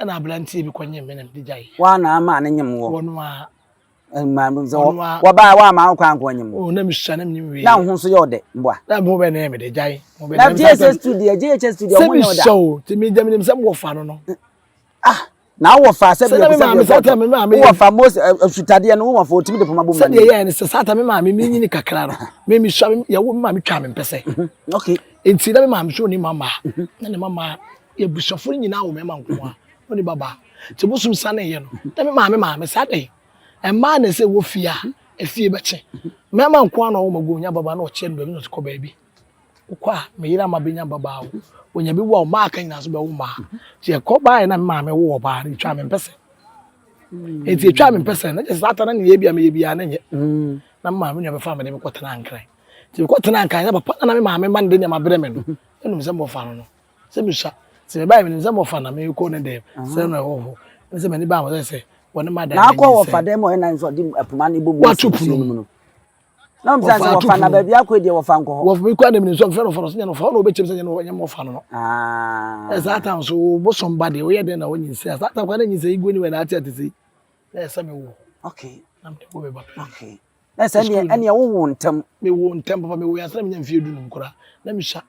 ɛna aberanteɛ bi kɔnyem me na mede gyae Woa na ama ne nyem wɔ wɔno ara Ɛma no sɛ Ɔno ara. wɔbaa woa ma wo kwan kɔ nyem o na mesua na menim wei na wo ho nso yɛ ɔdɛ mboa na mo bɛ ne mede gyae mo bɛ na ne mesa GHS tu deɛ GHS tu deɛ sɛ ɔmo nyɛ ɔda mesua o te me gya menim sɛ mo wɔfa no no ah na wo wɔfa sɛ sɛ na deɛ me bisa maame deɛ satan bɔɔtɔ me maame wo yɛ wɔfa mose asutadeɛ no wo wɔfa otumi de poma bɔ mu ma sɛdeɛ ne yɛɛ ne sɛ satan me maame me nyini kakra no me mesua me yɛwo me maame twaa me mpɛsɛ okay nti na me maame so ne mama na ne mama Y'abusuafo no nyinaa wɔ mmarima nko a, ɔne babaa. Nti bosom saneeɛ no, na me maame maame saa dɛn? Mmaa na ɛsɛ wɔ fie a, efie bɛkye. Mmarima nko ara na ɔwɔ magu ɔnya babaa na ɔkyerɛ no baabi na ɔse kɔ baabi. Wokɔ a, me yere ama bɛnya babaa o, ɔnya bɛwu a ɔmma aka nyinaa nso bɛwo mmaa. Nti ɛkɔ baeɛ na me maame woo ɔbaa no, ɛtwaa me mpɛsɛ. Nti ɛtwaa me mpɛsɛ na kyerɛ sɛ saa ta na ne yɛ bi a meyɛ biara na nyɛ. Na me maame nua bɛfa me de me kɔtenaa Nkran. Nti mekɔtenaa Nkran na papa na na me maame ma no de nneɛma brɛ me no, na nim sɛ mmɔfra no no. sɛ mehyia sɛ mebaeɛ menim sɛ mɔfa na mekɔ ne dɛm sɛ na ɛwɔ hɔ ne sɛ m'ani baa hɔ sɛ sɛ wɔne ma dan n'akɔ wɔfa dɛm ɔyɛ nan sɛ ɔde poma no bɔbu ato pono mu no na ɔm sɛ sɛ wɔfa na baabi akɔ deɛ wɔfa nkɔ hɔ wɔfa bi kɔ na menim sɛ ɔmfɛ no fa no sɛ nyɛ no fa hɔ na wɔbɛkyɛm sɛ nyɛ no nyɛ mɔfa no no ɛsaa tam so bosom ba deɛ woyɛ dɛn na wɔnyi sɛ ɛsaa tam kwa na nyi sɛ igwe ne wɛ na ate ate sɛ na ɛsɛ me wo okay na mede wo bɛba okay Na sɛ ɛneɛ ɛneɛ wo wo ntɛm. Me wo ntɛm papa me wo yɛ asana me nya mfie du num kura na me sha.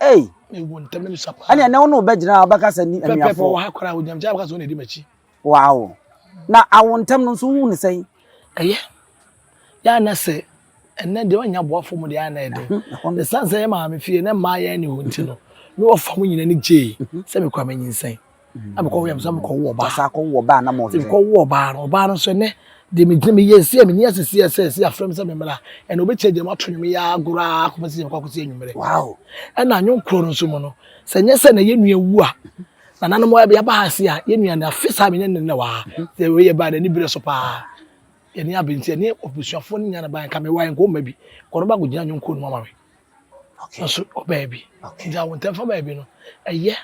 Ei. Me wo ntɛm na me sha paa. Ɛneɛ ne wo no bɛ gyina ɔbɛ kasa ni ɛnuafo. Pɛpɛpɛ wɔ ha kura wo nyam kyɛ abɛka sɛ wo na ɛdi m'akyi. Wow. Na awo ntɛm no nso wo ne sɛn. Ɛyɛ. Yɛ ana sɛ ɛnɛ deɛ ɔnya boafo mu deɛ ana ɛdɛ. Ne san sɛ yɛ maame fie na mmaa yɛ ne ho nti no. Me wɔ fa mo nyina ni gyee sɛ me kura me nyinsɛn. na mekɔ wia mesa mekɔ wo ɔbaa sa kɔ wo ɔbaa na mo sɛ mekɔ wo ɔbaa no ɔbaa no sɛ nɛ de me gyina me yɛ si me ni asisi ɛsɛ si afrɛ me sɛ me mmra ɛna obi kyɛ gyina ato nwom ya agorɔ a kɔpɛ sɛ mekɔ akɔsi anwummerɛ wow ɛna anwom korɔ no nso mu no sɛ nyɛ sɛ na yɛ nua wu a na nanom wɔ ɛbɛ yaba ha se a yɛ nua na afe saa me nyɛ ne wa sɛ wɔ yɛ ba na ni bere so paa yɛ ni abɛnti yɛ ni obusuafoɔ ne nyana ba nka me wa yɛ nkɔ mma bi kɔnɔ ba kɔ gyina anwom korɔ no ama me okay nso ɔbaa bi okay nti awon tɛnfa baa bi no ɛyɛ eh,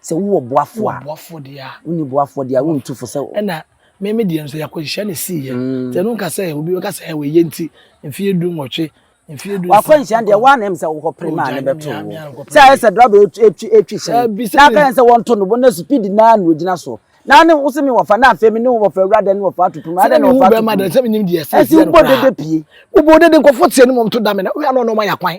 Sɛ wowɔ boafo a. Wowɔ boafo deɛ a. Wonni boafo deɛ a wontu fo sɛ. Ɛna me me deɛ nso yɛakɔnhyia ne sii yɛ. Mm. Sɛ ɛno nka sɛ obi bɛka sɛ ɛwɔ yɛ nti mfeɛ du nwɔtwe mfeɛ du. Wakɔ nhyia deɛ wɔn anam sɛ wokɔ pere maa ne bɛto wo. Sɛ ayɛ sɛ draba etwi etwi hyɛn. Na aka yɛn sɛ wɔn to no bɔ na speed naa na ogyina so. Na ne wo se me wɔfa na afei me ne wo wɔfa awura dɛ ne wɔfa ato pum. Adɛ ne wɔfa ato pum. Sɛ me nim deɛ sɛ ɛsɛ no koraa. Ɛsɛ wobɔ dede pie. Wobɔ dede nkɔfo teɛ ne mɔm to dame na woyɛ anɔ na ɔma yɛ kwan.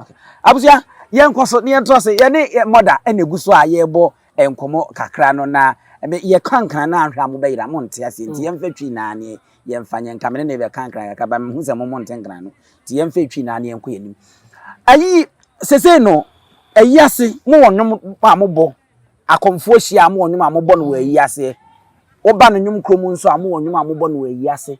Okay. Abusua, yɛnkɔ so na yɛntoa so. Yɛne yɛ mɔda na egu so a yɛrebɔ nkɔmmɔ kakra no na yɛ kankan na ahwɛ a mobɛyera mo nte aseɛ nti mm. yɛmfa twi naa ne yɛmfa nyɛ nka mene ne bɛkankran kakra ba mehu sɛ mo mo nte nkran no nti yɛmfa twi naa ne yɛnkɔ yɛn anim ayi sesei no ayi ase mo wɔ nnwom a mobɔ akɔmfoɔ hyia a mo wɔ nnwom a mobɔ no wɔ ayi aseɛ woba no nnwom kurom nso a mo wɔ nnwom a mobɔ no wɔ ayi ase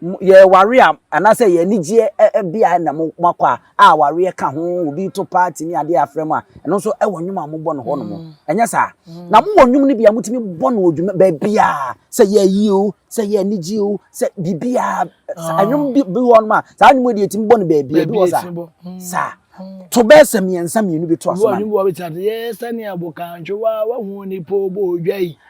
yɛware a anaasɛ yɛn anigyeɛ bea na moakɔ a a awareɛ ka ho obi to party ne adeɛ afrɛ mu a ɛno nso ɛwɔ nnwom a mobɔ no hɔ nom mm. ɛnyɛ saa mm. na mowɔ nnwom no bi a motumi bɔ no odwuma baabiaa sɛ yɛayi o sɛ yɛ anigye o sɛ biribiaa ah. nnwom bi hɔ nom a saa nnwom deɛ ɛtumi bɔ no baabia bi wɔ saa mm. saa to bɛɛ sɛ mmiɛnsa mmienu bi to aso ma no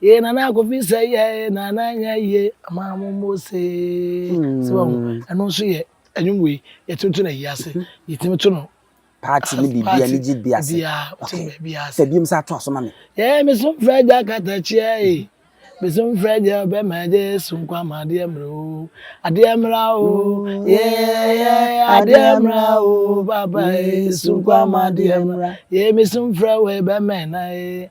Yee nana kofi sɛ yɛɛ nana nyɛ yie ama mo mo see sɛ wɔn ɛno nso yɛ ɛnwom wei yɛtumi to no ayi ase yɛtumi to no paati ne biribi ani gye bi ase sɛ biom sɛ ato aso ma me yɛɛ me so mfrɛ gya katakyiɛ e me so mfrɛ gya bɛma gye so nkwa ma adeɛ mmerɛ o adeɛ mmra o yɛɛ adeɛ mmra o baba e so nkwa ma adeɛ mmra yɛɛ me so mfrɛ wei bɛma na e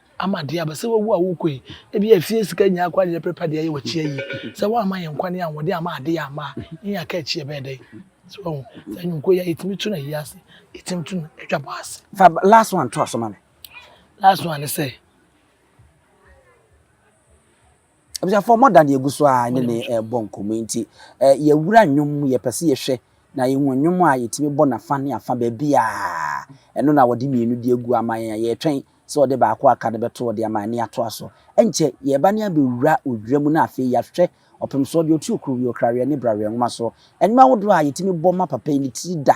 ama deɛ aba sɛ wawu a wokɔ yi ebia efie sika nyinaa koraa na yɛprepare de ayɛ w'akyi ayie sɛ woamma yɛn nkwa ne ahoɔden amma ade yɛ amma a yɛn aka akyi ɛbɛyɛ dɛn so wahu sɛ nnwonkuo yɛ yɛtumi tu no ayi ase yɛtumi tu no atwa bɔ ase fa last one to aso ma me last one ne sɛ Abusuafoɔ mo da ne egu so a ne ne ɛbɔ nkɔmɔ nti yɛwura nnwom mu yɛpɛ sɛ yɛhwɛ na yɛhu nnwom a yɛtumi bɔ nafa ne afa baabi a ɛno na wɔde mmienu de agu ama yɛn a yɛtwɛn sɛ ɔde baako aka no bɛto ɔde ama ne atoa so ɛnkyɛ yɛba ne abɛwura odwira mu na afei yɛahwɛ ɔpem soɔ deɛ ɔtu okuro wie okraweɛ ne braweɛ nwoma so nnwom ahodoɔ a yɛtumi bɔ ma papa yi ne tiri da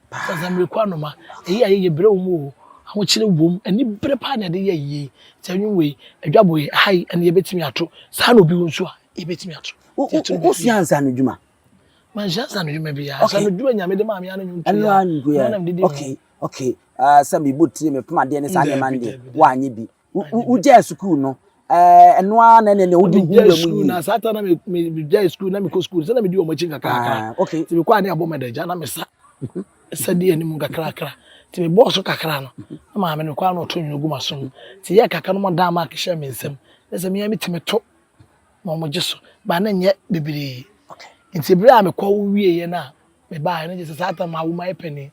Asasemereku anoma, eyi a yɛyɛ brɛ wɔ mu oo, ahokyere wɔ mu, anibere paa na yɛde yɛ ayi yei. Nti anwom wei, adwabɔ yi, aha yi, ɛnde yɛbɛtumi ato. Saa na obi wɔ nso a, yɛbɛtumi ato. Wosua nsaanodwuma? Mansua nsaanodwuma biara. Nsaanodwuma Nyame de maa me ara ne nnwom tu yi ara, ɛno ara na mede di dwuma. Okay, okay, ah, sɛ mebɔ tire, mepem adeɛ ne saa nneɛma no deɛ, woanyɛ bi. wogyae sukuu no ɛno ara na ɛne wode hu wura mu yie. na saa ta na megyae sukuu na mekɔ sukuu sɛ na medi wɔn akyi nkakrakra ah, okay. nti mekɔ a ne abɔ madagya na mesa ɛsɛ de anim nkakrakra nti mebɔɔ so kakra no na maame no kɔa na ɔto nwene gu maso mu nti yɛ kakra no mɔdaa maak hyɛ me nsam na sɛ mea metumi to na ɔmogye so baa na nyɛ bebree nti berɛ a mekɔ wieɛ no a mebaeɛ no gye sɛ saa ta ma wo ma yɛ panin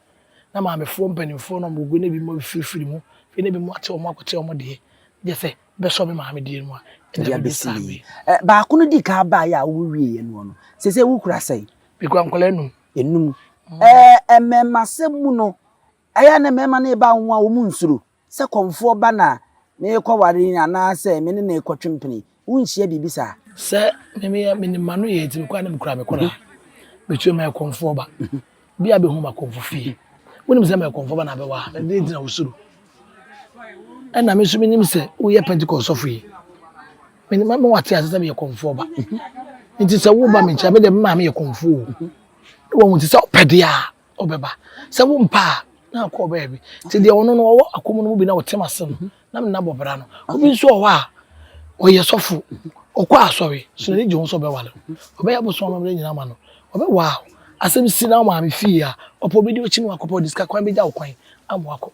na maamefoɔ mpaninfoɔ no a wɔwɔ guo no ebinom afirifiri mu, afei na ebinom ate wɔn akɔte wɔn deɛ, gye sɛ bɛsɔ me maame deɛ no a, ɛna Ɛde abɛsi mebisaa me. ne ɛ baako no dii kan baeɛ a wowieɛ noɔ no seesei wokura sɛn? Mekura nkwadaa nnum. Nnum. Ɛɛ mmɛɛmasɛm mu no, ɛyɛ a na mmɛɛma no reba wo ho a wɔnsuro? Sɛ kɔmfoɔ ba na merekɔware yi anaasɛ me ne no rekɔtwe mpene yi, wonhyia biribi saa? Sɛ me mea menim m'ano yie nti mekɔ a na mekura me kora a, metua mu. Meyɛ kɔmfoɔ ba. Obiara bɛhu m'akɔmfo fie. Wonim sɛ meyɛ kɔmfoɔ ba na abɛwa ha. Ɛdeɛn nti na wosuro? Ɛnna me nso menim sɛ woyɛ Pentekoste sɔfo yi. Menim ama woate ase sɛ meyɛ kɔmfoɔ ba. Enti sɛ woreba me nkyɛn a, me deɛ me maame yɛ kɔmfoɔ o. Woahu nti sɛ ɔpɛ deɛ a, ɔbɛba sɛ wo mpa a na akɔ ɔbɛyɛ bi nti deɛ ɔno no ɔwɔ akɔmu no mu bi na ɔtem ase no na menna bɔbra no obi nso ɔwɔ a ɔyɛ sɔfo ɔkɔ asɔre so n'ani gye ho sɛ ɔbɛwale ɔbɛyɛ abosom amammerɛ nyinaa ma no ɔbɛwa a asɛm si na maame fie a ɔpɛ obi de ɔkyi no akɔpɛ ɔde sika kwan bɛgya wo kwan ama wakɔ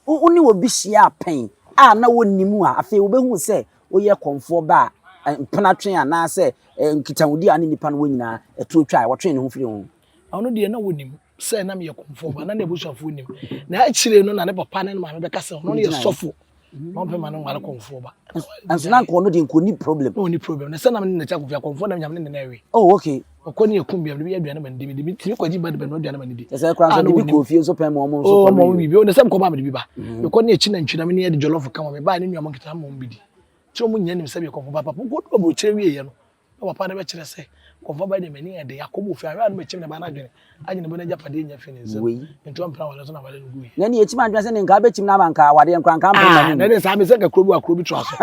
wo ne obi hyia pɛn a na wɔnni mu a afei wobɛhu sɛ woyɛ kɔmfoɔ ba a mpenatwe anaasɛ nkitahodi a ne nnipa no wɔ nyinaa ɛtuo twa a wɔtwe ne ho firi ho Ɔno deɛ na ɔnim sɛ na meyɛ kɔmfoɔ ba na n'abusuafoɔ nim. Na akyire no na ne papa ne ne maame bɛka sɛ ɔno no yɛ sɔfo na ɔmpɛ ma no nware kɔmfoɔ ba. Nanso na nkɔɔ no deɛ nkɔɔ ni problem. Na ɔni problem. Na sɛ na mene n'akyi akɔfia kɔmfoɔ na nyame ne ne ɛwe. Oh okay. Ɔkɔ ne ɛkum biam de bɛyɛ aduane ma no di mede metumi kɔgye ba de bɛnoa aduane ma no di. Ɛsɛ kora nso de bi kɔɔ fie nso pɛn ma ɔmo nso kɔmfoɔ. Oh ɔmo bibi. Ɔno sɛ mekɔba mede bi ba. Mekɔ ne akyi nantwi na mene ɛde jollof ka ma me baa ne nuanom nketewa ma ɔmo bi di. Nti ɔmo nyɛ nim sɛ meyɛ kɔmfoɔ ba papa. Ɔkɔdu aburokyire wieɛ no Na papa no bɛkyerɛ sɛ, Nkɔmfo aba yi deɛ, m'ani ɛde, akɔ mu ofie a, hwɛ ano bɛkyem ne ba no adwene, agye ne bo no agyapadeɛ nya afi ne nsam, Wei. nti ɔmpene aware so na aware no gui. Yɛn deɛ yɛkyim adwene sɛ ne nkaa bɛkyim no ama nkaa awadeɛ no koraa nkaa mpene Ah, n'anim. na ɛne saa, mesɛ nka kuro bi wɔ ha, kuro bi toa so.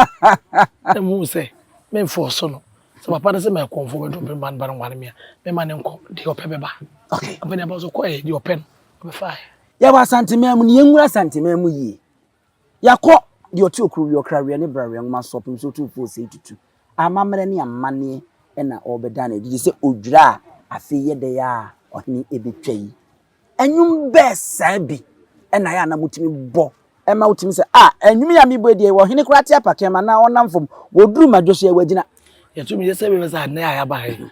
Na mehuu sɛ, memfɔɔ so no, sɛ papa no sɛ ma ɛkɔmfoɔ bɛdɔ me ba no ba no nware me a, mɛma no nkɔ, deɛ ɔpɛ bɛba. Okay. Ɔpɛ deɛ ɛba, ɔso kɔɛɛ, deɛ ɔpɛ no, ɔbɛfaaɛ. Yɛwɔ Asanteman mu, na yɛnwura Asanteman mu yie. Yɛakɔ Deɛ Ɔte Okuro Wie Ɔkra Weɛ ne Bra Weɛ Nwoma So Ɔpem Sɛ Otumfoɔ Ɔsɛe Tutu Amammerɛ ne Amanneɛ na Ɔrebɛda no Adi Gye Sɛ Odwira a Afei Yɛ Dɛn Ara a Ɔhene Ɛbɛtwa Yi Nnwom Bɛɛ Saa Bi Na Yɛ a Na Motumi Bɔ Ma Wotumi Sɛ Ah Nnwom Yi A Mebɔ Adie Wɔ Ɔhene Koraa Te Apakee Anaa Ɔnam Fam Ɔduru Madwo So Yɛ Wagyina Yɛtumi Yɛ Sɛ Bɛbɛ Saa Na Yɛ a Yɛaba Ha Yi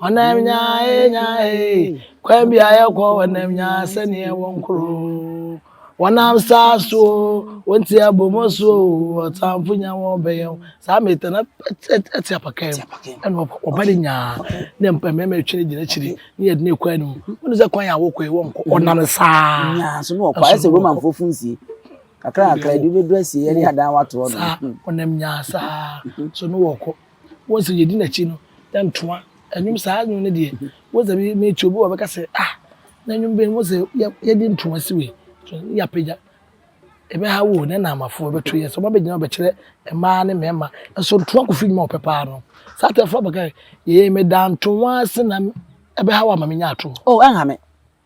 Ɔnam nyaa ee nyaa ee, kwan bi a yɛkɔ ɔnam nyaa sɛdeɛ ɛwɔ nkoro. Wɔnam saa so o, wɔn ti abɔ mu so o, ɔtamfo nya wɔn bɛyɛ o. Saa meta na ɛte apaka mu, ɛna ɔba de nyaa ne mpa mmarima atwi no gyina akyiri ne yɛde ne kwan no. Wɔn sɛ kwan a wɔkɔ yi wɔnkɔ, ɔnam saa. Nyaa so na ɔkɔ, ayɛ sɛ Romanfoɔ funsie. Kakra kakra, ebi bɛduru asie, yɛde adan watoɔ no. Saa, ɔnam nyaa saa, so na wɔkɔ. Once sɛ yɛdi n'akyi no, na ntoa, nnwom saa nnwom no deɛ, once sɛ mete obi wɔ bɛka sɛ, ah, na nnwom bɛn mu sɛ yɛde ntoa si wei, ne yɛapagya. Ɛbɛha wo o, na ɛna amafoɔ bɛto yɛ sɛ wɔabɛgyina bɛkyerɛ mmaa ne mmarima. Nso ntoa kofi nnwuma a ɔpɛ paa no. Saa atɛfoɔ abɛka yɛ, yɛyɛ meda ntoa ase na ɛbɛha wo ama menya atorɔ. Oh, ɛnha me.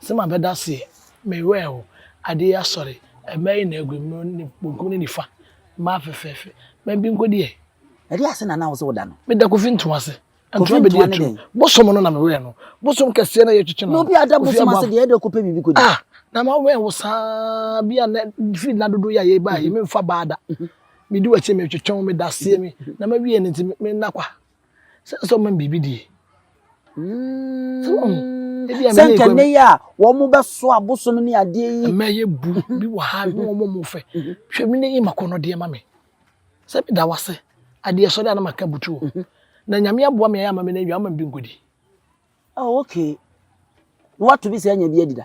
Se mabɛda aseɛ, me werɛ aho. Adeɛ yi asɔre, mmaa nyinaa agu mu, ne benkum ne nifa, mmaa fɛfɛɛfɛ, mmaa bi nko deɛ. Ɛdeɛ ase na na wo se woda no? Meda Kofi ntoma ase, ntoma bɛdi atu, bosom no na me werɛ no, bosom kɛseɛ no a yɛtwetwe no no, Kofi Aboafo. Na obi a da bosom ase deɛ, ɛdeɛ ɔkɔpɛ biribi kɔdi. Ah! Na mawɛn wo saa, bi a nnɛ, firi nna dodoɔ yi a yɛreba yi, memfa baa da, medi w'akyi, metwetwe wo, meda aseɛ, me, na mawie no nti, me, me nna kwa, Sɛ sɛ ɔma biribi die. Sɛ wɔn ebi a sɛ nka ne yɛ a wɔn mo bɛ so abosom ne adeɛ yi. Mɛ yɛ bu bi wɔ ha ne wɔn mo fɛ. Hwɛ mi ne yi ma kɔ no deɛ ma mi. Sɛ mi da wase adeɛ sɔrɔ anam aka butu o. Na nyame aboa mi ayɛ ama mi na ewia ama bi nkodi. Oh, okay. Woato bi sɛ anya bi adi da?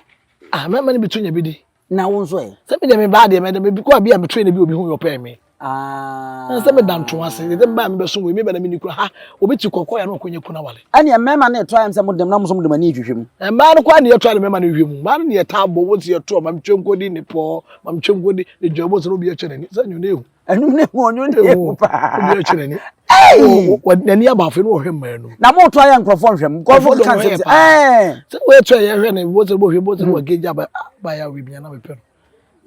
Ah, mɛma no bi to nya bi di. Na wo nso ɛ? Sɛ me deɛ me baa deɛ mɛda me kɔ a bi a me train bi obi ho yɔpɛɛ me. Ah. Na sɛ me da nto ase, deɛ me baa me bɛso wei me bɛ na me ni kura ha, obi ti kɔkɔ ya na ɔkɔ nya kuna wale. Ɛne mmarima no ɛtɔ ayam sɛ mo dem na mo nso mo dem ani hwehwɛ mu. Mmaa no kɔ a ne yɛtɔ ne mmarima no hwehwɛ mu. Mmaa no ne yɛtaa bɔ wɔn si yɛtoɔ, ma metwe nkɔdi ne pɔɔ, ma metwe nkɔdi ne dwa, wɔn sɛ na obi akyɛ n'ani, sɛ nyɛ ɔne ehu. ɛnum ne ho ɔnwo ne ho paa ɛbi ɛkyerɛ ni ɛyi n'ani abaafo no ɔhwɛ mmaa no na mo to ayɛ nkorɔfoɔ nhwɛm nkorɔfoɔ no kan sɛ ɛɛ sɛ wɔyɛ kyɛ yɛ hwɛ ne bɔ sɛ bɔ hwɛ bɔ sɛ wɔ gage aba aba yɛ awi bia na mepɛ no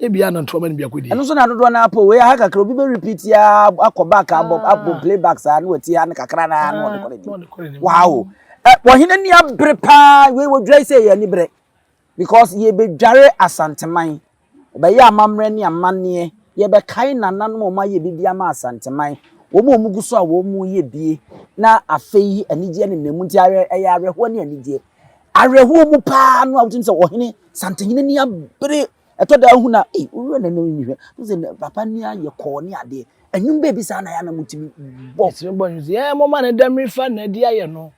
ebi ana ntoma no biako di ɛno nso na dodoɔ na apɔ wei aha kakra obi bɛ repeat ya akɔ back abɔ ah. abɔ play back saa ne wɔti ha ne kakra na ah, na ɔde kɔ ne ni waawo ɛ wɔhene ni abere paa wei wɔdwa yi sɛ yɛ ani berɛ Because yɛbɛdware Asanteman. Ɔbɛyɛ amammerɛ ne amanneɛ. Yɛbɛkae nananom a wɔayɛ biribi ama Asanteman. Wɔn a wɔgu so a wɔreyɛ bie na afei anigyeɛ nenam mu nti awerɛ ɛyɛ awerɛhoɔ ne anigyeɛ. Awerɛhoɔ mu paa no a wotumi sɛ ɔhene Santehene ani abere ɛtɔ da wohunu a ei woyɛ na ɛnɛ mehwɛ wohu sɛ nɛ papa ni ayɛ kɔɔ ne adeɛ. Ɛnwom baabi saa na ɛyɛ a na motumi bɔ. Yɛtumi bɔ nnwom sɛ yɛɛ momma ne dɛmmere fa nnadi ayɛ no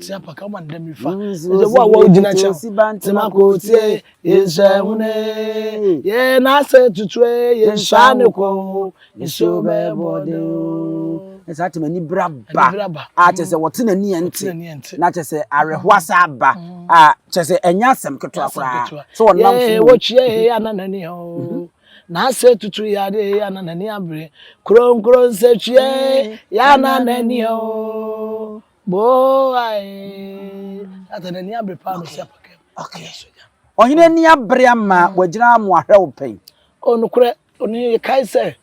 Tia paka ma dɛ mi fa. Ɛsɛ wo a wɔ gyina kyɛn. Nsuosi bantama kɔ tie yɛn hyɛ hune. Yɛn n'asɛ tutue yɛn hyɛ ne kɔ. Nsuo bɛɛ bɔ de o. Ɛsɛ ati ma ni bra ba. A kyɛ sɛ wɔte na ni yɛn te. Na kyɛ sɛ awerɛho asa aba. A kyɛ sɛ ɛnyɛ asɛm ketewa koraa. So wɔn nam so. Yɛ wɔ kyia yɛ yɛ ananani o. N'ase tutu yɛ adeɛ yɛ na n'ani abere. Kronkron nsɛtwiɛ yɛ na n'ani o. Boae. Ata n'ani abere paa no si apakɛ. Okay. Ɔhene ani abere ama mm. wagyina mo ahwɛ wo pɛn. O nokorɛ, ɔne yɛkae sɛ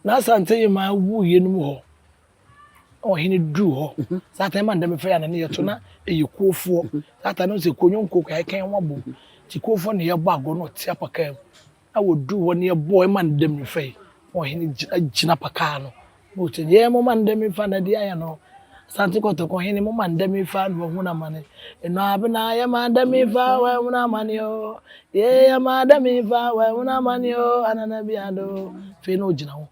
n'asante yɛ ma awu yɛnum hɔ. ɔhene duru hɔ saa ata no ma ndɛmɛfɛ yɛ anane yɛto na ɛyɛ kuofoɔ saa ata no sɛ kuo nyɔnkuo kɔ yɛkɛn ho abom nti kuofoɔ na yɛbɔ agorɔ na ɔte apakaa mu na wɔduru hɔ na yɛbɔ ɛma ndɛmɛfɛ yi na ɔhene gyina apakaa no na ɔte yɛ mo ma ndɛmɛfɛ na ɛde ayɛ no asante kɔtɔkɔ hene mo ma ndɛmɛfɛ na ɔhunu amane ɛnɔ abena yɛ ma ndɛmɛfɛ wɔ ɛhunu amane o yɛ yɛ ma ndɛmɛfɛ wɔ ɛhunu amane o anana bi ado fei na ɔgyina ho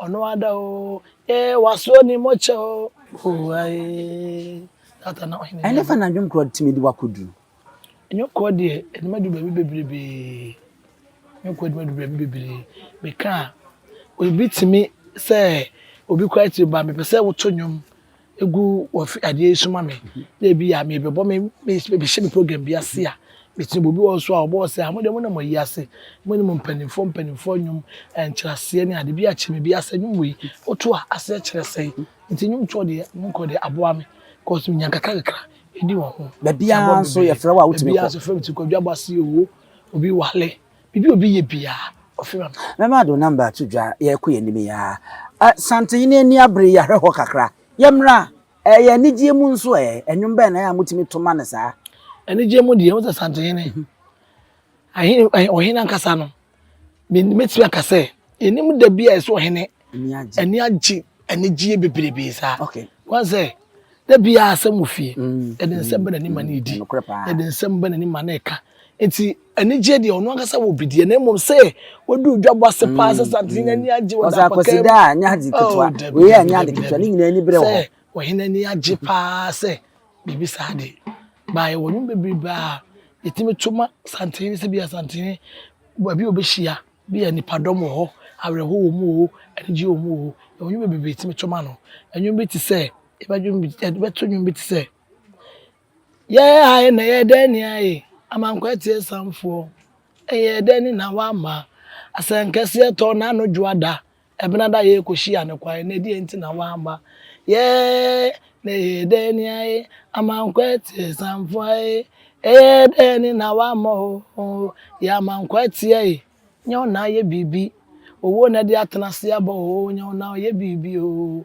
Ɔno ada o eh wasoɔ ne mɔkyɛ o oh aye. Ɛne fa na dwonkorɔ de tumi de wakɔ duru. Dwonkorɔ deɛ ɛde ma du baabi bebrebe dwonkorɔ ɛde ma du baabi bebrebe meka a obi tumi sɛ obi kora tiri ba mepɛ sɛ woto nnwom gu wɔ fi adeɛ yi so ma me na ebi a mebɛbɔ me mehyɛ me program bi ase a metumi bɔ obi wɔ hɔ so a ɔbɔ hɔ sɛ a mo deɛ mo nam ayi ase mo ne mo mpanimfoɔ mpanimfoɔ nnwom nkyerɛaseɛ ne ade bi akyerɛ me bi asɛ nnwom wei woto a aseɛ kyerɛ sɛe nti nnwom toɔ deɛ mo nkɔ deɛ aboa me kɔs menya kakra kakra ɛdi wɔ ho baabiara nso yɛfrɛ wo a wotumi kɔ baabiara nso frɛ me ti kwadwa bɔ ase o obi wale Biribi a obi yɛ biara, ɔfrɛ me ba. Mɛma do number ato dwa, yɛrekɔ yɛn anim yi ara. Eh, Santenhene ani abere yi, ahwɛ hɔ kakra. Yɛmmra. Eh, ɛyɛ anigyeɛ mu nso ɛ. Nnwom bɛn na ɛyɛ a motumi to ma no saa? Anigyeɛ mu deɛ, wohu sɛ Santenhene, ahene, ɔhene ankasa no, mɛtumi aka sɛ, yɛnnim da bi a ɛsɛ ɔhene Ani agye. Ani agye anigyeɛ bebrebee saa. Okay. Wɔn sɛ da biara asɛm wɔ fie. Mm. Yɛde mm, nsɛm ba n'anim ma mm, no redi. Nokorɛ paa. Yɛde nsɛm ba n'anim ma no reka. Nti anigyeɛ deɛ ɔno ankasa wɔ bi deɛ na mmom sɛ wɔduru dwabɔ ase paa sɛ santen mm, ani agye wɔ dapɔkɛ. Ɔsɛ akɔsi da a nyɛ ade ketewa. Oh, Wei a nyɛ ade ketewa ne nyinaa ani berɛ wɔ hɔ. Sɛ wɔhene ani agye paa sɛ biribi saa de baayɛ wɔ nwom bebrebe a yɛtumi to ma santene sɛ bi a santene baabi a wɔbɛhyia Bi a nnipadɔm wɔ hɔ, awerɛhow wɔ mu oo, anigye wɔ mu oo, yɛwɔ nnwom bebree tumi to ma no. Nnwom bi te sɛ, yɛbɛdwom bi, yɛbɛto nnwom bi te sɛ, Yɛn ha yi na ɛyɛ dɛn ne ayɛ yi, ama nkwati asianfoɔ. Ɛyɛ dɛn na woama asɛnkɛseɛ tɔ n'ano dwoada? Ebɛnada yee kohyia no kwan na deɛn nti na wamma yɛɛ na ɛyɛɛ dɛn ni ae amankwɛteɛ sanfoa ee ɛyɛɛ dɛn ni na wamma oo yɛ amankwɛteɛ ee nyɛ wo na ayɛ biribi owuo na ɛde atena ase aba oo nyɛ wo na ɔyɛ biribi oo.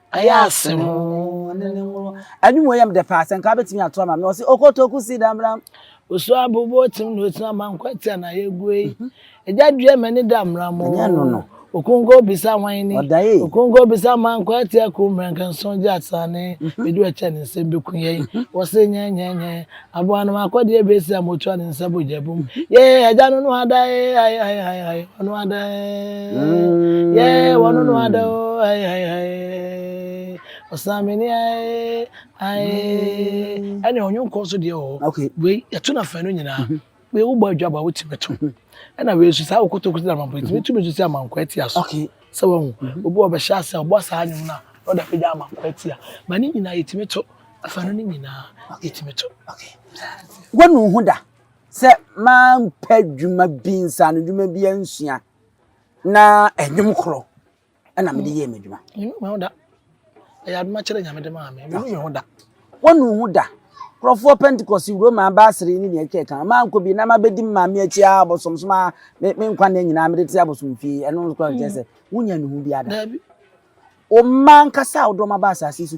Ɛyɛ asɛm oo ne ne nworo. Animuoyam dɛ paa sɛ nka wobɛtumi ato ama me ɔse okotoku si damram. Osu abobo otim na otim ama nkwatia na yɛgu ei. Agya dua m'ani damram oo. Ɛnyɛ no no. Okunko obisa hwan ni. Ɔda ei. Okunko obisa ma nkwatia ku mmerɛnkɛnson gye asaane. Bɛdi w'akyɛ ne nsɛm bɛku yɛn. Wɔse nyɛnyɛnyɛ. Aboa no ma kɔ deɛ bɛ si a mo tua ne nsa bɔ gya bom yee agya no no ada ee hai hai hai hai ɔno ada ee yee wɔno no ada o hai hai hai ɔsan mene ae ae ɛne ɔnwonko nso deɛ wɔ hɔ wei yɛto no afanu nyinaa Wei wobɔ adwabɔ a wotumi to ho ɛna wei nso saa wokotokoto na mampo ɛtumi tumi nso sɛ amanko atia so sɛ wahu obi wɔ bɛhyɛ ase a ɔbɔ saa nnwom no a na ɔde apagya amanko atia ba ne nyinaa yɛtumi to afa no ne nyinaa yɛtumi to wanu ho da sɛ mampɛ dwuma bi nsa no dwuma bi ansua na ɛnwom korɔ ɛna mede yɛɛ m'adwuma. Menu me ho da. Ɛyɛ adoma kyerɛ nyame de maa me. Menu me ho da. Wɔnu ho da. Nkurɔfoɔ Pentecost wuro maa baasere ne nea atwa ɛka. Maa nkɔ bi na ma bɛdi me maame akyi a abosomsom a me me nkwa nna nyinaa mede te abosom fie. Ɛno nso kora kyerɛ sɛ wonya nuhu biara da. Daabi. Ɔma nkasa a wodɔ ma ba asase so.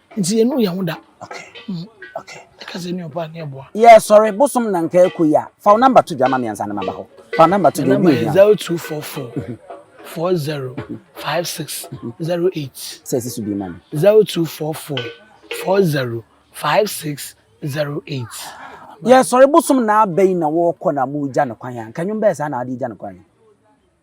Nti yɛ nu yɛn ho da. Okay. Mm. Okay. Ɛka sɛ ni ɔba ni ɛboa. Yɛ sɔre bosom na nka ɛkɔ yi a. Fa namba to dwa ma miɛnsa ne ma ba hɔ. Fa namba to dwa obi ohia. Zero two four four four zero five six zero eight. Sɛ ɛsi so bi ma mi. Zero two four four four zero five six zero eight. Yɛ sɔre bosom na abɛyi na wɔkɔ na mo gya ne kwan a. Nka nwom bɛyɛ saa na adi gya ne kwan.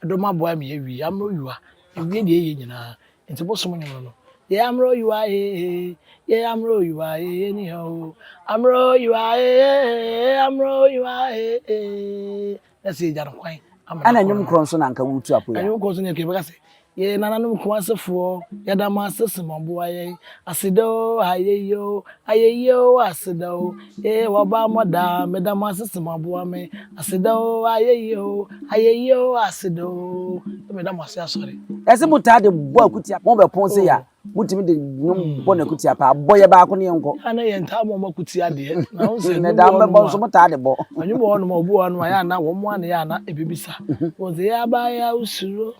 Dom aboa me awie amero yua ewie deɛ yɛ nyinaa nti bosom nwom no yɛ amero yua ee yɛ amero yua ee ni hɛ o amero yua ee amero yua ee na sɛ egya no kwan amero ana nwom korɔ nso na nka wotu apo ya nwom korɔ nso na ɛkɛ bɛka sɛ yɛ nananom kun asefoɔ yɛda mo ase sɛ mo aboa yɛn Aseda o, ayeyi o, ayeyi o, aseda o, ee w'abammɔ daa, meda mo ase sɛ moaboa me. Aseda o, ayeyi o, ayeyi o, aseda o, ee meda mo ase asɔre. Ɛsɛ motaa de bɔ akutia pɔn bɛ pɔn sei a motumi de nwom bɔ no akutia paa bɔ yɛ baako ne yɛnkɔ. Yɛ a na yɛntaa mɔ mo akutia deɛ na wohu sɛ nnwom wɔ hɔnom a motaa de bɔ. Nnwom wɔ hɔnom a obi wɔ hɔnom a yɛ a na wɔn a na yɛ a na ɛbɛbisa wɔn sɛ yɛaba yɛ a wosuro.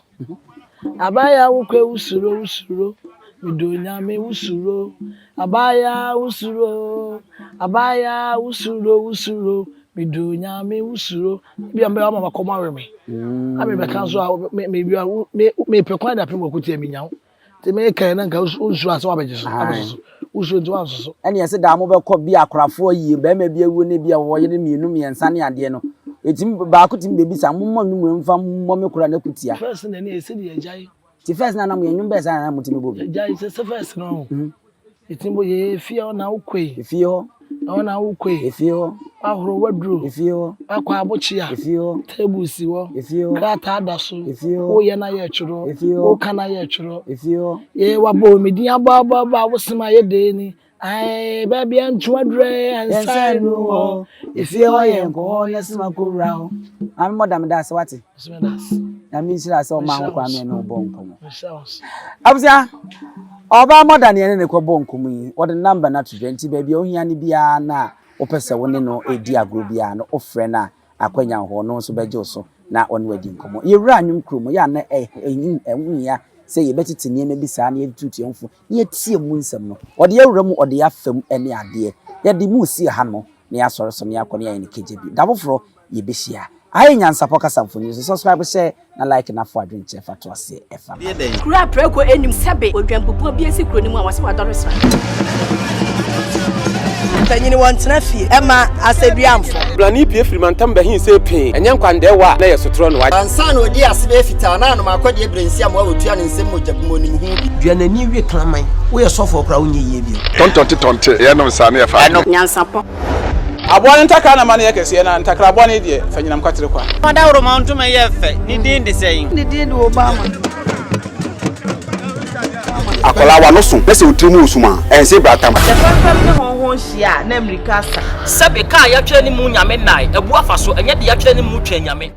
Abaayaa wo kɔ wo suro wo suro me dɔ onyame wo suro abaayaa wo suro abaayaa wo suro wo suro me dɔ onyame wo suro ebi a mbɛyɛ ama makɔm awe me na mebɛka nso a me me me me pɛ kwan da pɛ mɔko tia me nya wo. Nti mekae na nka wonsuro asɛ wabɛgye so abɛso so. Wosuro nti wanso so. Ɛne ɛsɛ daa mobɛkɔ bi akorafoɔ yie bɛrima bi awuo ne bi a wɔwɔ yere mmienu mmiɛnsa ne adeɛ no ɛtumi baako tumi bɛbisa mommɔ nnwom wei mfa mmɔ me kora na kutia. First na ɛne ɛsɛ deɛ agyae. Ti first na nam yɛn nnwom bɛɛ saa na na motumi bɔ bi. Agyae sɛ sɛ first no. Eti mo yɛ efie hɔ na wo kɔe. Efie hɔ. Ɛhɔ na wo kɔe. Efie hɔ. W'ahoro w'aduro. Efie hɔ. W'akɔ abokyea. Efie hɔ. Table si hɔ. Efie hɔ. Krataa da so. Efie hɔ. Wo yɛ na yɛ twerɛ. Efie hɔ. Wo ka na yɛ twerɛ. Efie hɔ. Yee w'abɔ o me din abɔ abɔ abɔ a wo sem a yɛ dee ni aee baabi a ntu aduro ee yɛ nsa enu hɔ. Efie hɔ yɛ nkɔ hɔ yɛ sem akɔ wura hɔ. Maame mɔda me da ase w'ate. Nyame nhyira sɛ ɔma ho kwan mɛ ne ɔbɔ nkɔmɔ. Abusua, ɔbaa mɔda ne ɛne ne kɔbɔ nkɔmɔ yi, ɔde namba no ato dwa nti baabi a ohia no biara na wopɛ sɛ wo ne no edi agorɔ biara no wofrɛ no a akwanya wɔ hɔ ɔno nso bɛgye wo so na ɔne wadi nkɔmɔ. Yɛwura anwom kuro mu yɛ a na ɛho hia sɛ yɛbɛtete nneɛma bi saa na yɛde tutu yɛn ho fo. na yɛatie mu nsɛm no, wɔde yɛn wura mu ɔdee afa mu ne adeɛ, yɛde mo resi ha no, na yɛasɔre so na yɛakɔ na yɛayɛ no kagya bi. Da foforɔ, yɛbɛhyia. Aha yɛ Nyansapɔ kasa mfonini so. Subscribe, share, na like na foɔ adwenkyerɛ fa to aseɛ ɛfa no. Kuro a prɛko nnim sɛbe odwanbubuo bi asi kuro no mu a wɔse wadɔre sra. Mpanyini wɔn tena fie ɛma asɛduamfo. Brani pie firi mantam bɛhin sɛ pee ɛnyɛ nkwandɛɛwa a na ɛyɛ sotorɔ no. Ansa na ɔdii ase bɛyɛ fitaa na anom akɔdeɛ berɛ nsi amoa ɔtua ne nsam mogya gu mu ɔnim ho bi. Dua n'ani we kraman. Woyɛ sɔfoɔ koraa wonyɛ yie bio. Tɔntɔnte tɔnte ɛyɛ nom saa ne ɛfa adwene. Nyansapɔ. Aboa no ntakra na ma no yɛ kɛseɛ na ntakraboa no deɛ fa nyinam kwatere kwa. Dawuroma ntoma yɛ fɛ, ne din de sɛn? Ne din de Obama. Akwadaa wa no so na sɛ otiri mu wɔ sum a, ɛnse bra tam. Sɛ fɛmfɛm ne hɔnhɔn hyia a, na mmirika asa. Sɛbe, ka a yɛatwerɛ ne mu Nyame nnae, abu afa so, ɛnyɛ deɛ yɛatwerɛ ne mu twɛn Nyame.